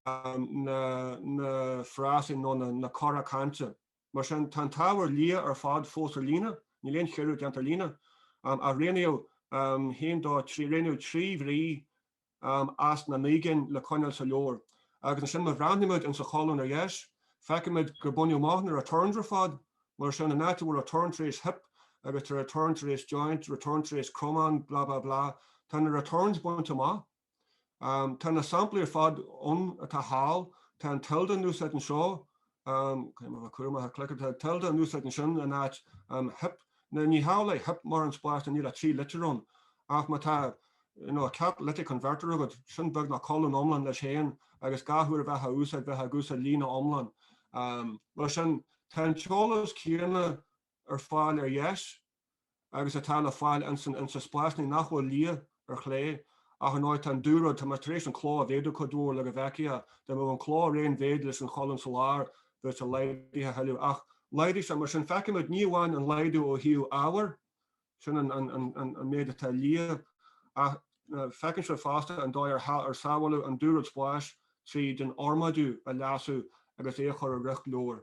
na na frásaí nó na na cora cainte. Mar sin, tá an t-ábhar liath ar fad fós ar líne, níl aon chiorrú déanta ar líne, um, ach rianaíodh um, haon dó rianaíodh trí bhrí um, as na naoi gcinn le coinneáil sa leabhar. Agus ansin má bhreathnaímid insa cholún ar dheis, feicimid gur baineadh amach na returns ar fad, mar sin an áit a bhfuil return tar éis hip agus tá return tar éis joint, return tar éis cromán, blah blah blah, tá na returns bainte amach. Tá na samplaí ar fad ann atá thall. Tá an tilde in úsáid anseo, caithfidh mé a bheith cúramach ag cliceáil, tá tilde in úsáid ansin in áit hip. Now ní hamhlaidh go n-itheann hip mórán spáis níl ach trí litir ann, ach má tá you know, catalytic converter agat, sin beagnach colún iomlán leis féin agus gach uair a bheifeá á úsáid bheifeá ag úsáid líne iomlán. Mar sin, tá an t-eolas céanna ar fáil ar dheis. agus atá le fáil ins na spásannaí nach bhfuil liath, ar chlé, ach ar ndóigh tá an dúrud, tá mé tar éis an cló a mhéadú cuid mhór le go bhfeicfeá, dá mbeadh an cló ar aon mhéid leis an cholún sa lár bheadh sé laghdaithe a thuilleadh, ach laghdaigh, so, mar sin feicimid ní amháin an laghdú ó thaobh ábhair, sin an méid atá liath, ach feicimid fosta an dóigh ar sábháladh an dúrud spáis tríd an fhormáidiú a leasú agus é a chur i riocht leabhair.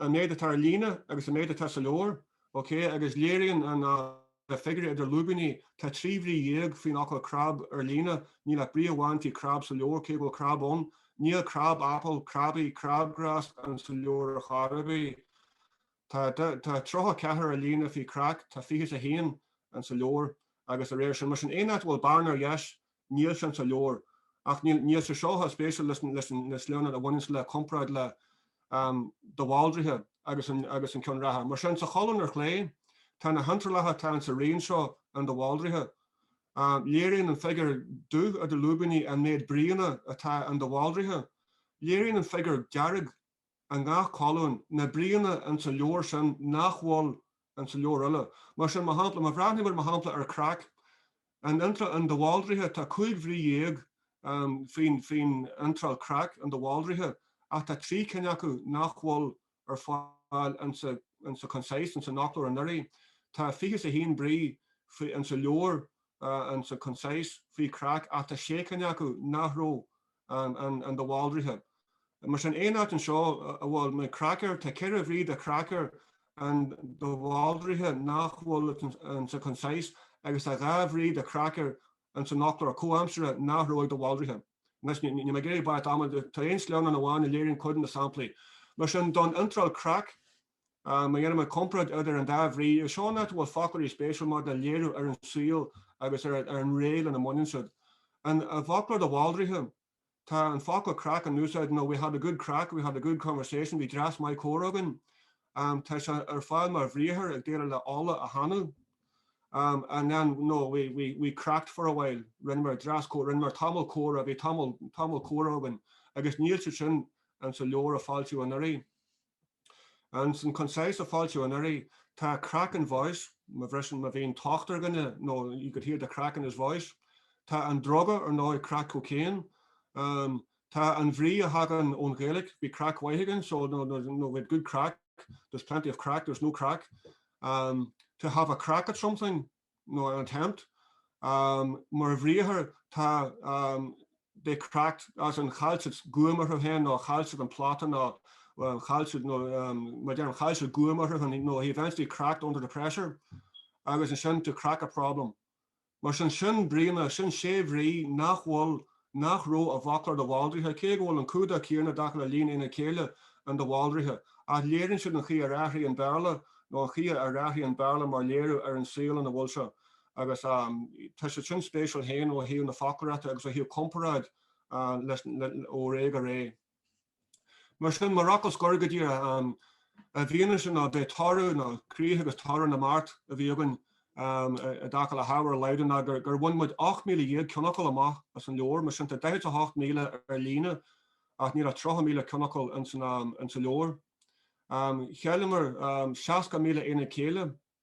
an méid atá ar líne agus an méid atá sa leabhar, ok, agus léiríonn na figiúirí idir lúibíní, tá trí bhrí dhéag faoin fhocal crab ar líne, níl ach brí amháin faoi crab sa leabhar, cé go bhfuil crab ann. Níl crab apple, crabby, crabgrass insa leabhar ar chor ar bith. Tá tá tríocha ceathair ar líne faoi crack, tá fiche is a haon insa leabhar, agus de réir sin. Mar sin, aon áit a bhfuil bearna ar dheis, Níl sin sa leabhar. Ach níl sé seo chomh spéisiúil leis na sleánna a bhaineanns le comparáid le de Bhaldraithe agus agus an ceann reatha. Mar sin, sa cholún ar chlé, tá na hiontrálacha atá insa réimse seo in de Bhaldraithe. Léiríonn an figiúr dubh idir lúibíní an méid bríonna atá in de Bhaldraithe. Léiríonn an figiúr dearg. i ngach colún, na bríonna in sa leabhar sin nach bhfuil in sa leabhar eile. Mar sin, mar shampla, má bhreathnaíonn muid, mar shampla, ar crack, in iontráil in de Bhaldraithe, tá cúig bhrí dhéag faoin, faoin iontráil crack in de Bhaldraithe, ach tá trí cinn acu nach bhfuil ar fáil in sa, in sa Concise, in san fhoclóir anuraidh. Tá fiche 's a haon brí in sa leabhar, insa Concise, faoi crack, ach tá sé cinn acu nach raibh in de Bhaldraithe. Mar sin, aon áit anseo a bhfuil mar cracker, tá ceithre bhrí de cracker in de Bhaldraithe nach bhfuil insa Concise agus tá dhá bhrí de cracker insan fhoclóir comhaimseartha nach raibh ag de Bhaldraithe. Anois, níl mé ag iarraidh barraíocht ama, tá aon sleamhnán amháin a léiríonn cuid de na samplaí. Mar sin, don iontráil crack, Má dhéanann muid comparáid idir an dá bhrí, seo an áit a bhfuil foclóirí spéisiúil maidir le léiriú ar an tsaol agus ar an ré lena mbaineann siad. In, i bhfoclóir de Bhaldraithe, tá an focal crack in úsáid, you know, we had a good crack, we had a good conversation, bhí dreas maith comhrá againn. Tá sé ar fáil mar bhriathar ag déileáil le ola a thanú. And then, you know, we cracked for a while, rinneamar dreas, rinneamar tamall comhrá, bhí tamall, tamall comhrá againn, agus níl siad sin sa leabhar a foilsíodh anuraidh. Ins an Concise a foilsíodh anuraidh, tá crack in voice, má bhriseann, má bhíonn tocht ar dhuine, you know, you could hear the crack in his voice. Tá an druga, ar ndóigh, crack cocaine. Tá an bhrí a thagann ón Ghaeilge, bhí craic mhaith againn, so no, no, no, we had good crack, there's plenty of crack, there's no crack. To have a crack at something, nó an attempt. Mar bhriathar, tá they cracked as in chaill siad guaim orthu féin nó chaill siad an plota nó chaill siad nó mar déarfainn chaill siad guaim orthu féin nó he eventually cracked under the pressure agus ansin to crack a problem. Mar sin sin bríonna, sin sé bhrí nach bhfuil nach raibh i bhfoclóir de Bhaldraithe, cé go bhfuil an clúdach céanna i dtaca le líon aonad céille in de Bhaldraithe, ach léiríonn siad an chaoi ar athraigh an Béarla, nó an chaoi ar athraigh an Béarla mar léiriú ar an saol ina bhfuil sé, agus tá sé sin spéisiúil féin ó thaobh na foclóireachta agus ó thaobh comparáid ó ré go ré. Mar sin, mar fhocal scoir, go dtí i bhfianaise, nó ba é toradh nó críoch agus toradh na mbeart a bhí againn i dtaca le hábhar a laghdú ná gur bhain muid 18,000 ceannfhocal amach as an leabhar. Mar sin, tá 48,000 ar líne ach níl ach 30,000 ceannfhocal insa leabhar. Chailleamar 60,000 aonad céille.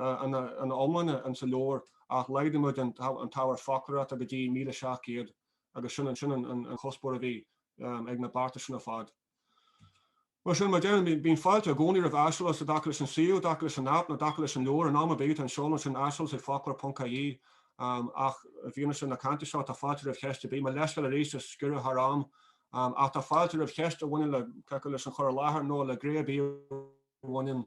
ina iomláine insa leabhar ach laghdaigh muid an t-ábhar foclóireachta go dtí míle seacht gcéad agus sin sin an chuspóir a bhí ag na bearta sin ar fad. Mar sin mar a déarfainn bíonn fáilte i gcónaí roimh aiseolas i dtaca leis an suíomh, i dtaca leis an app nó i dtaca leis an leabhar in am ar bith an seoladh sin aiseolas ag foclóir.ie ach i bhfianaise na cainte seo tá fáilte roimh cheist ar bith, mo leithscéal arís as sciorradh thar am ach tá fáilte roimh cheist a bhaineann le leis an chur i láthair nó le gné ar bith a bhaineann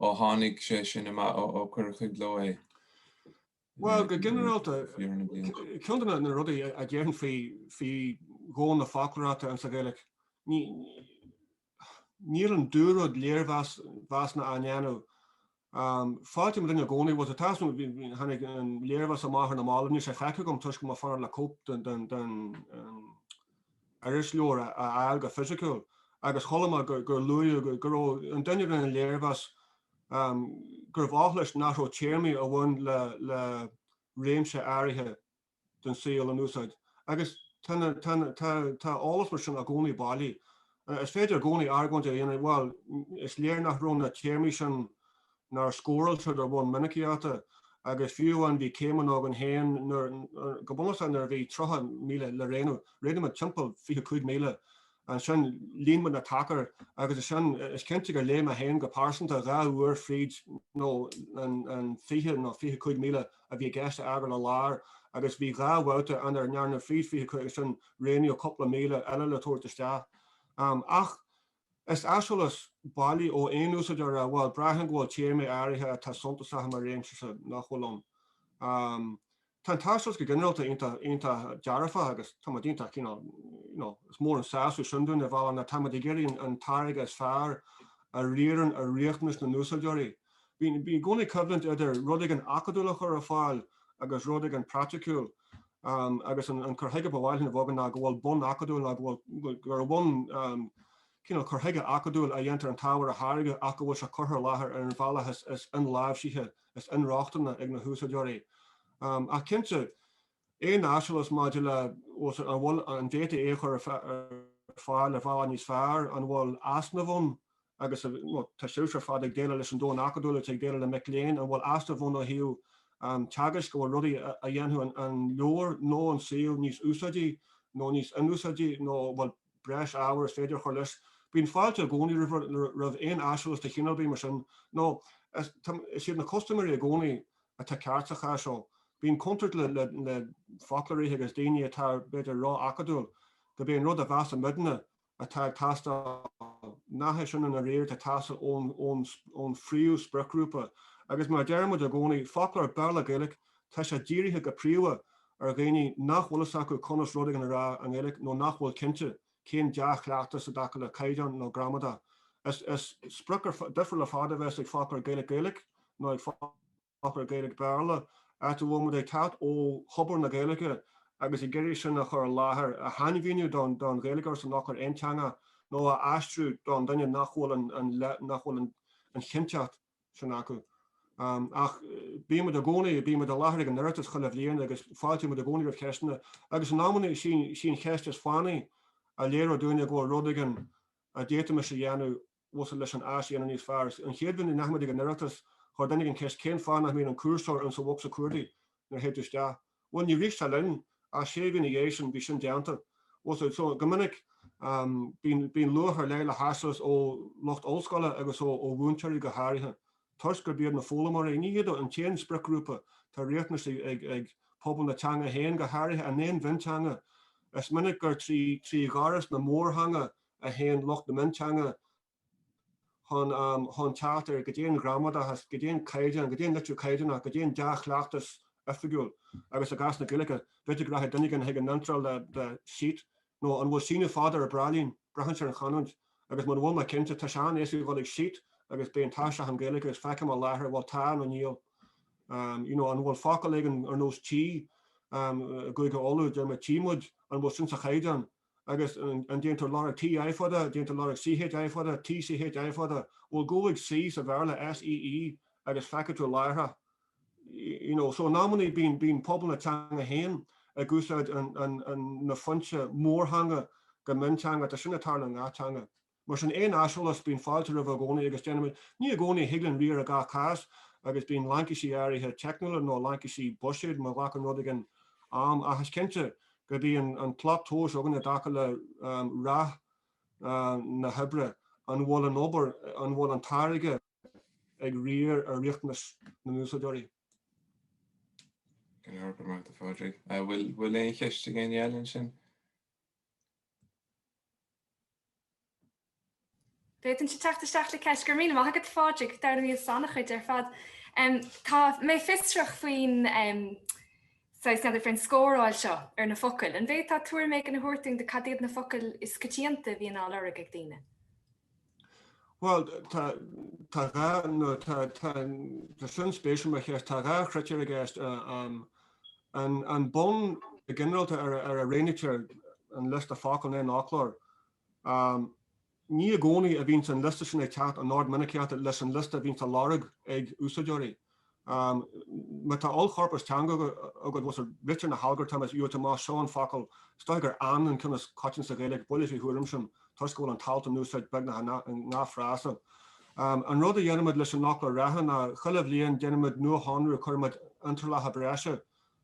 Ó tháinig sé sin amach, ó cuireadh i gcló é. Bhuel, go ginearálta, ceann de na rudaí a déarfainn faoi dhomhan na foclóireachta insa Ghaeilge, níl an dúrud léirmheasanna á ndéanamh. Fáilte an duine i gcónaí, bhuel, tá, tháinig an léirmheas amach ar na mallaibh, níl sé feicthe agam toisc go bhfuil mé ag fanacht le cóip den, irisleabhar a fháil go fisiciúil agus chuala mé gur luaíodh go raibh an duine a rinne an léirmheas gurbh oth leis nach raibh téarmaí a bhain le réimse áirithe den saol in úsáid agus tá eolas mar sin i gcónaí bailí. Is féidir i gcónaí argóint a dhéanamh, bhuel, is léir nach raibh na téarmaí sin nuair a scóráiltear de bhun minicíochta, agus fiú amháin bhí céimeanna againn féin nuair, go bunúsach, nuair a bhí 30,000 le roghnú. Roghnaigh muid timpeall 25,000. Ansin líon muid na tacair agus is sin, is cinnte gur léigh mé féin go pearsanta dhá uair fríd nó an 20 nó 25,000 a bhí i gceist a fhágáil ar lár agus bhí dhá bhabhta ann ar ndearnadh fríd 25 agus ansin roghnaíodh cúpla míle eile le tabhairt isteach. Ach. Is aiseolas bailí ó aon úsáideoir a, bhuel, braitheann go bhfuil téarmaí áirithe atá suntasach i mo réimse-sa nach bhfuil ann. Tá an t-aiseolas go ginearálta iontach, iontach dearfach agus táimid iontach cineál, you know, is mór an sásamh sin dúinn, ar bhealach, nó táimid ag iarraidh an táirge is fearr a riarann ar riachtanais na n-úsáideoirí. Bíonn i gcónaí coimhlint idir rud éigin acadúil a chur ar fáil agus rud éigin praiticiúil. agus an cur chuige ba mhaith linn a bheadh againn ná go bhfuil bonn acadúil nó go bhfuil, gur de bhun cineál cur chuige acadúil a dhéantar an t-ábhar a tháirgeadh ach go bhfuil sé curtha i láthair ar an bhealach is inláimhsithe, is inrochtana ag na húsáideoirí. Ach cinnte, aon aiseolas maidir le, bhfuil, an bhfuil, an bhféadfaí é a chur ar fáil ar bhealach níos fearr, an bhfuil easnamh ann agus tá sibhse ar fad ag déileáil leis an domhan acadúil agus ag déileáil le mic léinn an bhfuil easnamh ann ó thaobh teagaisc, an bhfuil rudaí a dhéanfadh an leabhar nó an suíomh níos úsáidí nó níos inúsáidte nó an bhfuil breis ábhair is féidir a chur leis. Bíonn fáilte i gcónaí roimh aon aiseolas de chineál ar bith mar sin nó is iad na custaiméirí i gcónaí atá ceart sa chás seo. Bíonn contúirt le foclóirithe agus daoine atá, b'fhéidir, ró-acadúil gurb é an rud a mheasann muidne atá ag teastáil, nach é sin an oiread atá ag teastáil ón phríomh-spriocghrúpa, agus mar a deirimid i gcónaí foclóir Béarla-Gaeilge, tá sé dírithe go príomha ar dhaoine nach bhfuil fhios acu conas rud éigin a rá i nGaeilge nó nach bhfuil cinnte cén dea-chleachtas i dtaca le caighdeán nó gramadach. Is sprioc difriúil ar fad a bheas ag foclóir Gaeilge-Gaeilge nó ag foclóir Gaeilge-Béarla áit a bhfuil muid ag teacht ó thobar na Gaeilge agus ag iarraidh sin a chur i láthair, a shainmhíniú don Ghaeilgeoir san fhoclóir aonteanga nó a aistriú don duine nach bhfuil an chinnteacht sin acu. Ach bíonn muid i gcónaí, bíonn muid i láthair ag an Oireachtas chuile bhliain agus fáiltíonn muid i gcónaí roimh cheisteanna agus in amanna sí an cheist is fánaí a léireodh dúinne go bhfuil rud éigin a d'fhéadfaimis a dhéanamh fós leis an áis a dhéanamh níos fearr. An chéad bhliain a ndeachaigh muid ag an Oireachtas, chuir duine éigin ceist cén fáth nach mbíonn an cúrsóir insa bhosca cuardaigh nuair a théid tú isteach. Bhuel, níor rith sé linn, ach sé mhí ina dhiaidh sin, bhí sin déanta. So, go minic, bíonn, bíonn luach ar leith le haiseolas ó lucht ollscoile agus ó, ó mhúinteoirí go háirithe, toisc gurb iad na foghlaimeoirí, ní hiad an t-aon spriocghrúpa, tá riachtanais ag, ag, ag pobal na teanga féin, go háirithe in aon mhionteanga. Is minic gur trí, trí ghaireas na mórtheanga a. a théann lucht na mionteanga chun teacht ar gramadachas, go dtéann caighdeán, go dtéann litriú caighdeánach, go dtéann dea-chleachtas oifigiúil agus i gcás na Gaeilge, b'fhéidir go rachaidh duine éigin chuig an iontráil le sheet nó an bhfuil síneadh fada ar bhráillín, braitheann sé ar an chanúint agus mura bhfuil mé cinnte, tá sé an-éasca a dhul ag sheet agus beidh an t-aistriúchán Gaeilge agus feicfidh mé láithreach an bhfuil tá nó níl. you know an bhfuil focal éigin ar nós tchí i gCúige Uladh, deir mé tchí muid, an bhfuil sin sa chaighdeán? Agus an déantar lorg TI fada, déantar lorg CHI fada, TCHI fada? Bhuel, gabh ag see sa Bhéarla, SEE, agus feicfidh tú láithreach. You know, so in amannaí bíonn pobal na teanga féin ag úsáid na foinse mórtheanga go mionteanga, tá sin ag tarlú i ngach teanga. Mar sin, aon aiseolas, bíonn fáilte roimhe i gcónaí, agus déanaimid, ní i gcónaí a thig linn riar i gach cás, agus bíonn laincisí áirithe teicniúla nó laincisí buiséid má ghlacann rud éigin am, ach is cinnte gurb í an an tslat tomhais againn i dtaca le rath na hoibre, an bhfuil an obair, an bhfuil an táirge ag riar ar riachtanais na n-úsáideoirí. Go leor, go raibh maith agat a Phádraig. Bhfuil aon cheist ag éinne eile ansin? Féadaimse teacht isteach le ceist go raibh míle maith agat a Phádraig, d'ár ndóigh as an méid ar fad. Tá mé fiosrach faoin saghas meadar fén scóráil seo ar na focail. An bhféadfá tuairim éigin a thabhairt dúinn de cad iad na focail is coitianta a bhíonn á lorg ag daoine? Bhuel, tá, tá dhá, nó tá, tá, tá sin spéisiúil mar cheist, tá dhá chritéar i gceist, an, an bonn go ginearálta ar, ar a roghnaítear an liosta focal in aon fhoclóir. Ní i gcónaí a bhíonns an liosta sin ag teacht in ord minicíochta leis an liosta a bhíonns á lorg ag úsáideoirí. Má tá ollchorpas teanga agat agus ritear na halgartaim is uathoibríoch, seo an focal, is dóigh gur 'an' an ceann is coitianta sa Ghaeilge, buille faoi thuairim sin, toisc go bhfuil an t-alt in úsáid beagnach i ngach frása. An rud a dhéanaimid leis an fhoclóir reatha ná, chuile bhliain, déanaimid nuashonrú, cuirimid iontrálacha breise,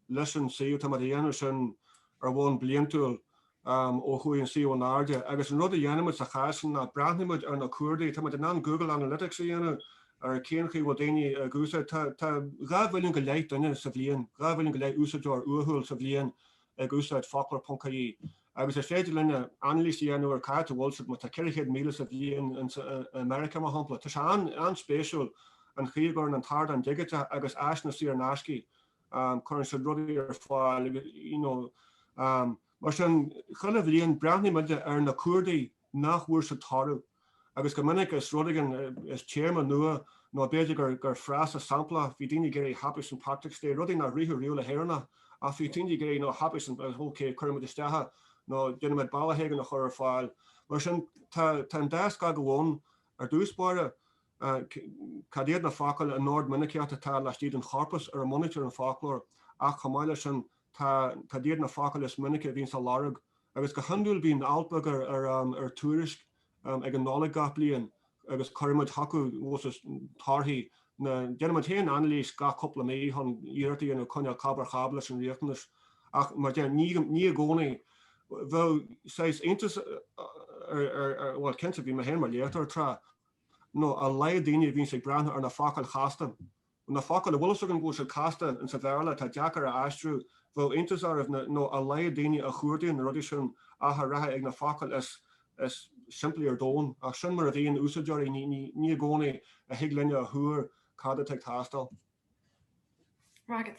leis an suíomh. Tá muid ag déanamh sin ar bhonn bliantúil ó chuaigh an suíomh in airde agus an rud a dhéanaimid sa chás sin ná breathnaímid ar na cuardaigh, táimid in ann Google Analytics a dhéanamh ar cén chaoi a bhfuil daoine ag úsáid, tá dhá mhilliún go leith duine sa bhliain, dhá mhilliún go leith úsáideoir uathúil sa bhliain ag úsáid foclóir.ie agus is féidir linn anailís a dhéanamh ar cá háit a bhfuil siad, má tá 400,000 sa bhliain i Meiriceá mar shampla. Tá sé an-spéisiúil an chaoi a gcuireann an t-ardán digiteach agus áiseanna saor in aisce cuireann siad rudaí ar fáil agus you know mar sin chuile bhliain breathnaíonn muide ar na cuardaigh nach bhfuair siad toradh agus go minic is rud éigin is téarma nua nó b'fhéidir gur gur frása samplach a bhí daoine ag iarraidh happy st patrick's day rudaí nár rithfeadh riamh le hÉireannach ach bhí daoine ag iarraidh you know happy st patrick's ok cuireann muid isteach é nó déanann muid bealach éigin a chur ar fáil mar sin tá tá an dá scagadh ann ar dtús báire. ii, Cad iad na focail in ord minicíochta atá laistigh den chorpas ar a mbunaítear an foclóir, ach chomh maith leis sin, ii, Cad iad na focail is minice a bhíonns á lorg, agus go hiondúil bíonn alt beag ar Tuairisc ag an Nollaig gach bliain agus cuirimid chucu torthaí na, déanaimid féin anailís gach cúpla mí chun iarracht a dhéanamh coinneáil cab ar cab leis an riachtanas, ach mar sin, ní i gcónaí. Bheadh sórt iontas, bhuel, cinnte, bhí mé féin mar léachtóir tráth, nó a laghad daoine a bhíonns ag breathnú ar na focail chasta, nó na focail a bhfuil fhios againn go bhfuil siad casta, ins an Bhéarla, atá deacair a aistriú, bheadh iontas orm, na, nó a laghad daoine a chuardaíonn na rudaí sin i dtaca le, rather, na focail is, is simplí ar domhan. Ach sin mar a bhíonn úsáideoirí, ní, ní, ní i gcónaí a thig linne a thuar cad atá ag teastáil. Right.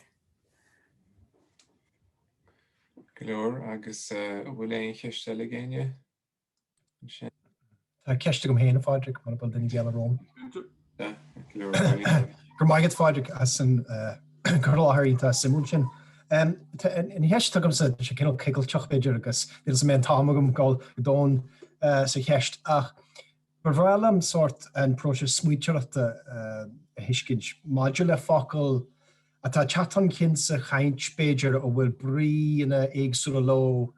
Go leor, agus an bhfuil aon cheist eile ag éinne? Tá ceist agam féin, a Phádraig, mura bhfuil duine éigin romham. Go raibh maith agat, Phádraig, as an cur i láthair iontach suimiúil sin. An cheist atá agamsa, tá sé cineál coigilteach, b'fhéidir, agus níl a fhios agam an bhfuil an t-am againn a ghabháil go domhain sa cheist, ach ba bhreá liom sórt an próiseas smaointeoireachta a thuiscint maidir le focail atá ag teacht chun cinn sa chaint, b'fhéidir, a bhfuil bríonna éagsúla leo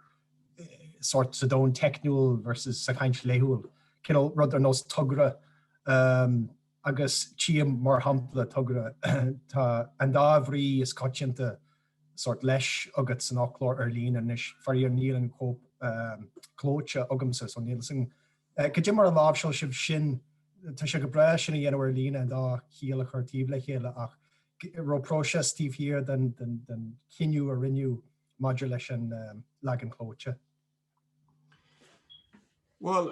sórt sa domhan teicniúil versus sa chaint laethúil, cineál rud ar nós togra agus tím, mar shampla, togra. Tá an dá bhrí is coitianta sórt leis agat san fhoclóir ar líne anois. Faraor, níl an chóip chlóite agamsa, so níl 's agam goidé mar a láimhseáil sibh sin. Tá sé go breá é sin a dhéanamh ar líne, an dá chiall a chur taobh le chéile, ach an raibh próiseas taobh thiar den chinneadh a rinneadh. maidir leis an leagan clóite? Bhuel,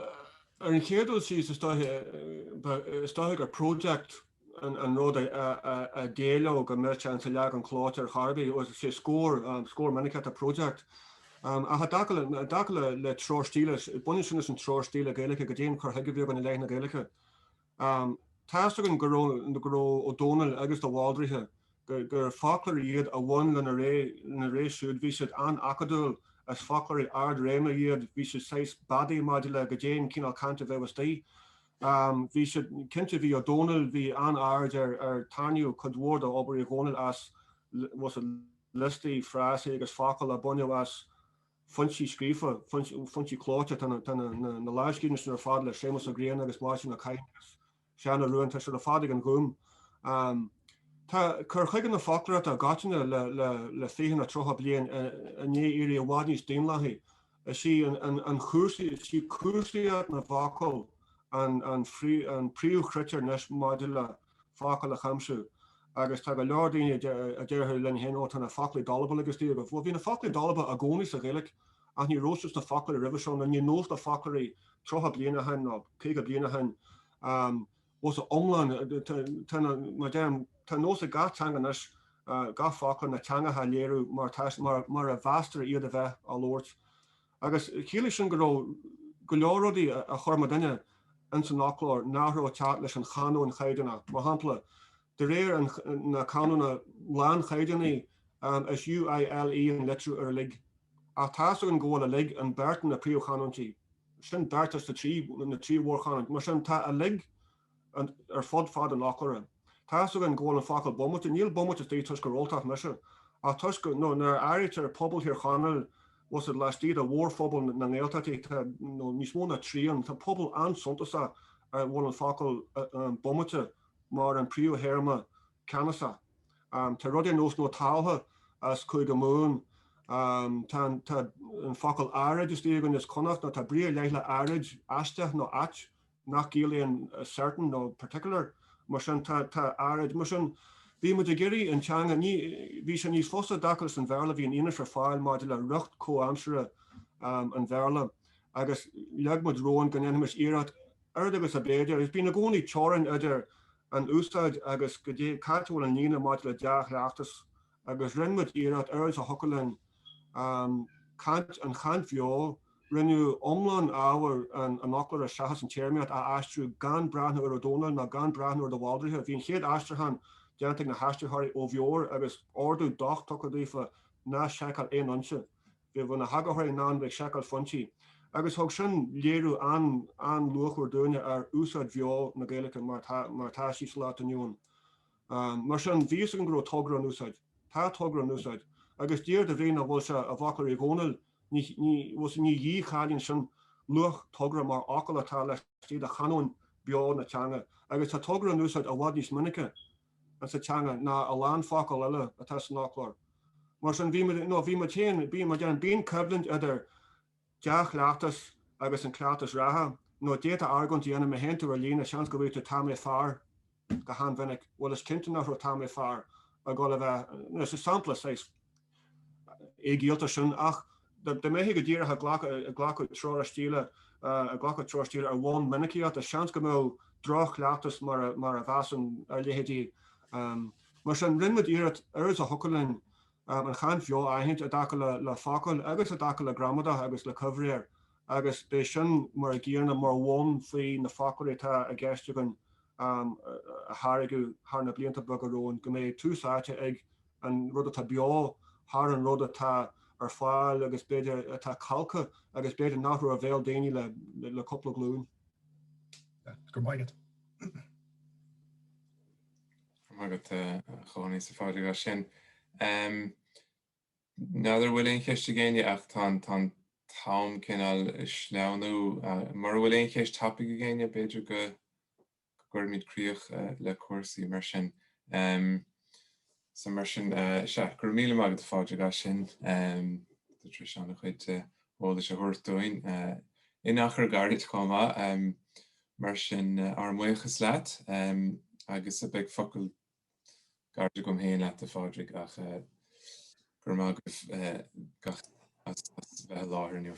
ar an chéad dul síos, is dóigh gur project an rud a d'éileodh go mbeadh sé sa leagan clóite ar chor ar bith, as a scór, scór minicíochta project. Ach i dtaca le treoir stíle, baineann sin leis an treoir stíle Gaeilge go dtéann an cur chuige, beag beann ar leith na Gaeilge. Tá's againn go raibh Ó Dónaill agus de Bhaldraithe, gur foclóirí iad a bhain lena ré siúd, bhí siad an-acadúil, is foclóirí ard-réime iad, bhí siad saghas beadaí maidir le goidé'n cineál cainte bheadh istoigh. Bhí siad, cinnte bhí Ó Dónaill, bhí an-aird ar, tarraingíodh cuid mhór d'obair Uí Dhónaill as, was it, liostaí frásaí agus focail a baineadh as, foinsí scríofa, foinsí clóite, tá na lámhscríbhinní sin ar fad le Séamas Ó Grianna agus Máirtín Ó Cadhain agus Seán Ó Ruadháin, tá siad ar fad ag an Ghúm. Tá cur chuige na foclóireachta i gcoitinne le fiche nó tríocha bliain i ndiaidh éirí i bhfad níos daonlathaí. Is í cúrsaíocht na bhfocal an príomhchritéar anois maidir le focal a chuimsiú agus tá go leor daoine a déarfadh linn féin, Ó, tá na focla dalba ann agus díreach. Bhuel, bhí na focla dalba i gcónaí sa Ghaeilge ach ní rabh siad sna foclóirí roimhe seo nó ní nós na foclóirí tríocha bliana ó shin nó caoga bliana ó shin as a n-iomlán. Tá, mar a deirim, tá nós ag gach teanga anois gach focal na teanga a léiriú mar a mheastar iad a bheith á labhairt. Agus chiallaigh sin go raibh go leor rudaí a chuir muidinne ins an fhoclóir nach raibh ag teacht leis an chanóin chaighdeánach. Mar shampla, de réir na canóna lánchaighdeánaí, is UILE an litriú ar uilig. Ach tá's againn go bhfuil uilig in beirt de na príomhchanúintí. Sin beirt as na trí mhórchanúint. Mar sin, tá uilig ar fud fad an fhoclóra. Tá's againn go bhfuil an focal bomaite, níl bomaite istigh toisc gur Ultach mise, ach toisc nó nuair a áirítear pobal Thír Chonaill, was it laistigh de mhórphobal na nGaeltachtaí níos mó ná trian, tá pobal an-suntasach a bhfuil an focal bomaite mar an príomhthéarma ceannasach. Tá rudaí ar nós nó tabhartha as Cúige Mumhan, tá an focal áirid istigh againn as Connacht nó tá brí ar leith le áirid, aisteach nó ait nach gciallaíonn 'certain' nó 'particular', mar sin, tá, tá, áirid, mar sin, bhí muid ag iarraidh an teanga, ní, bhí sé níos fusa i gcás an Bhéarla, bhí an fhianaise ar fáil maidir le riocht comhaimseartha an Bhéarla agus leag muid romhainn go ndéanfaimis iarracht oiread agus ab fhéidir, agus bíonn i gcónaí teorainn idir an úsáid agus, go dtí, cá bhfuil an líne maidir le dea-chleachtas Agus rinne muid iarracht, oiread is a thiocfadh linn, caint, an chaint bheo, rinneadh iomlán ábhar an fhoclóra seachas an téarmaíocht, a aistriú gan breathnú ar Ó Dónaill ná gan breathnú ar de Bhaldraithe. Bhí an chéad aistriúchán déanta ag na haistritheoirí ó bheo agus ordú docht tugtha daofa ná seiceáil aon fhoinse. Bheadh na heagarthóirí in ann bheith ag seiceáil foinsí. Agus thug sin léiriú an-luachmhar dúinne ar úsáid bheo na Gaeilge mar atá sí sa lá atá inniu ann. Mar sin, bhí fhios agam go raibh togra in úsáid. Tá togra in úsáid. Agus d'iarr de Bhriain an bhfuil sé i bhfocair Uí Dhónaill, ní ní, ní dhí-chailín sin luach togra mar fhocal atá laistigh de chanóin beo na teanga. Agus tá togra in úsáid i bhfad níos minice in sa teanga ná a lán focal eile atá san fhoclóir. Mar sin, bhí muid, no, bhí muid féin, bíonn, mar déarfainn, bíonn coimhlint idir, dea-chleachtas agus an cleachtas reatha, nó d'fhéadfá argóint a dhéanamh, má théann tú ar líne, seans go mbeadh tá mé fear go han-mhinic, bhuel is cinnte nach raibh tá mé fear ag dhul a bheith, nó is sampla saghas éigiallda sin, ach dá mbeifí go díreach ag glacadh treoir istigh, ag glacadh treoir istigh ar bhonn minicíochta, seans go mbeadh droch-chleachtas mar a bheas ann ar leithéidí. Mar sin, rinne muid iarracht oiread is a thiocfadh linn, an chaint bheo a aithint i dtaca le focail agus i dtaca le gramadach agus le coimhréir agus b'é sin mar a gcíoradh mar bhonn faoi na foclóirí atá i gceist againn a tháirgeadh thar na blianta beaga romhainn, go mbeidh tús áite ag an rud atá beo thar an rud atá ar fáil agus b'fhéidir atá calctha agus b'fhéidir nach raibh ar bhéal daoine le cúpla glúin. Go maith agat. Maith agat, a Chóilín, sa phádraig as sin. N'fheadar an bhfuil aon cheist ag éinne ach tá an t-am cineál ag sleamhnú. Mura bhfuil aon cheist tapaidh ag éinne, b'fhéidir go gcuirfimid críoch le cúrsaí mar sin. So mar sin, sea, go raibh míle maith agat, a Phádraig, as sin, do dtreis an-chuid eolais a thabhairt dúinn, in achar gairid chomh maith. Mar sin, ár mbuíochas leat, agus beidh focal gairid agam féin leat, a Phádraig, ach grma agaibh gach duine as a bheith i láthair inniu.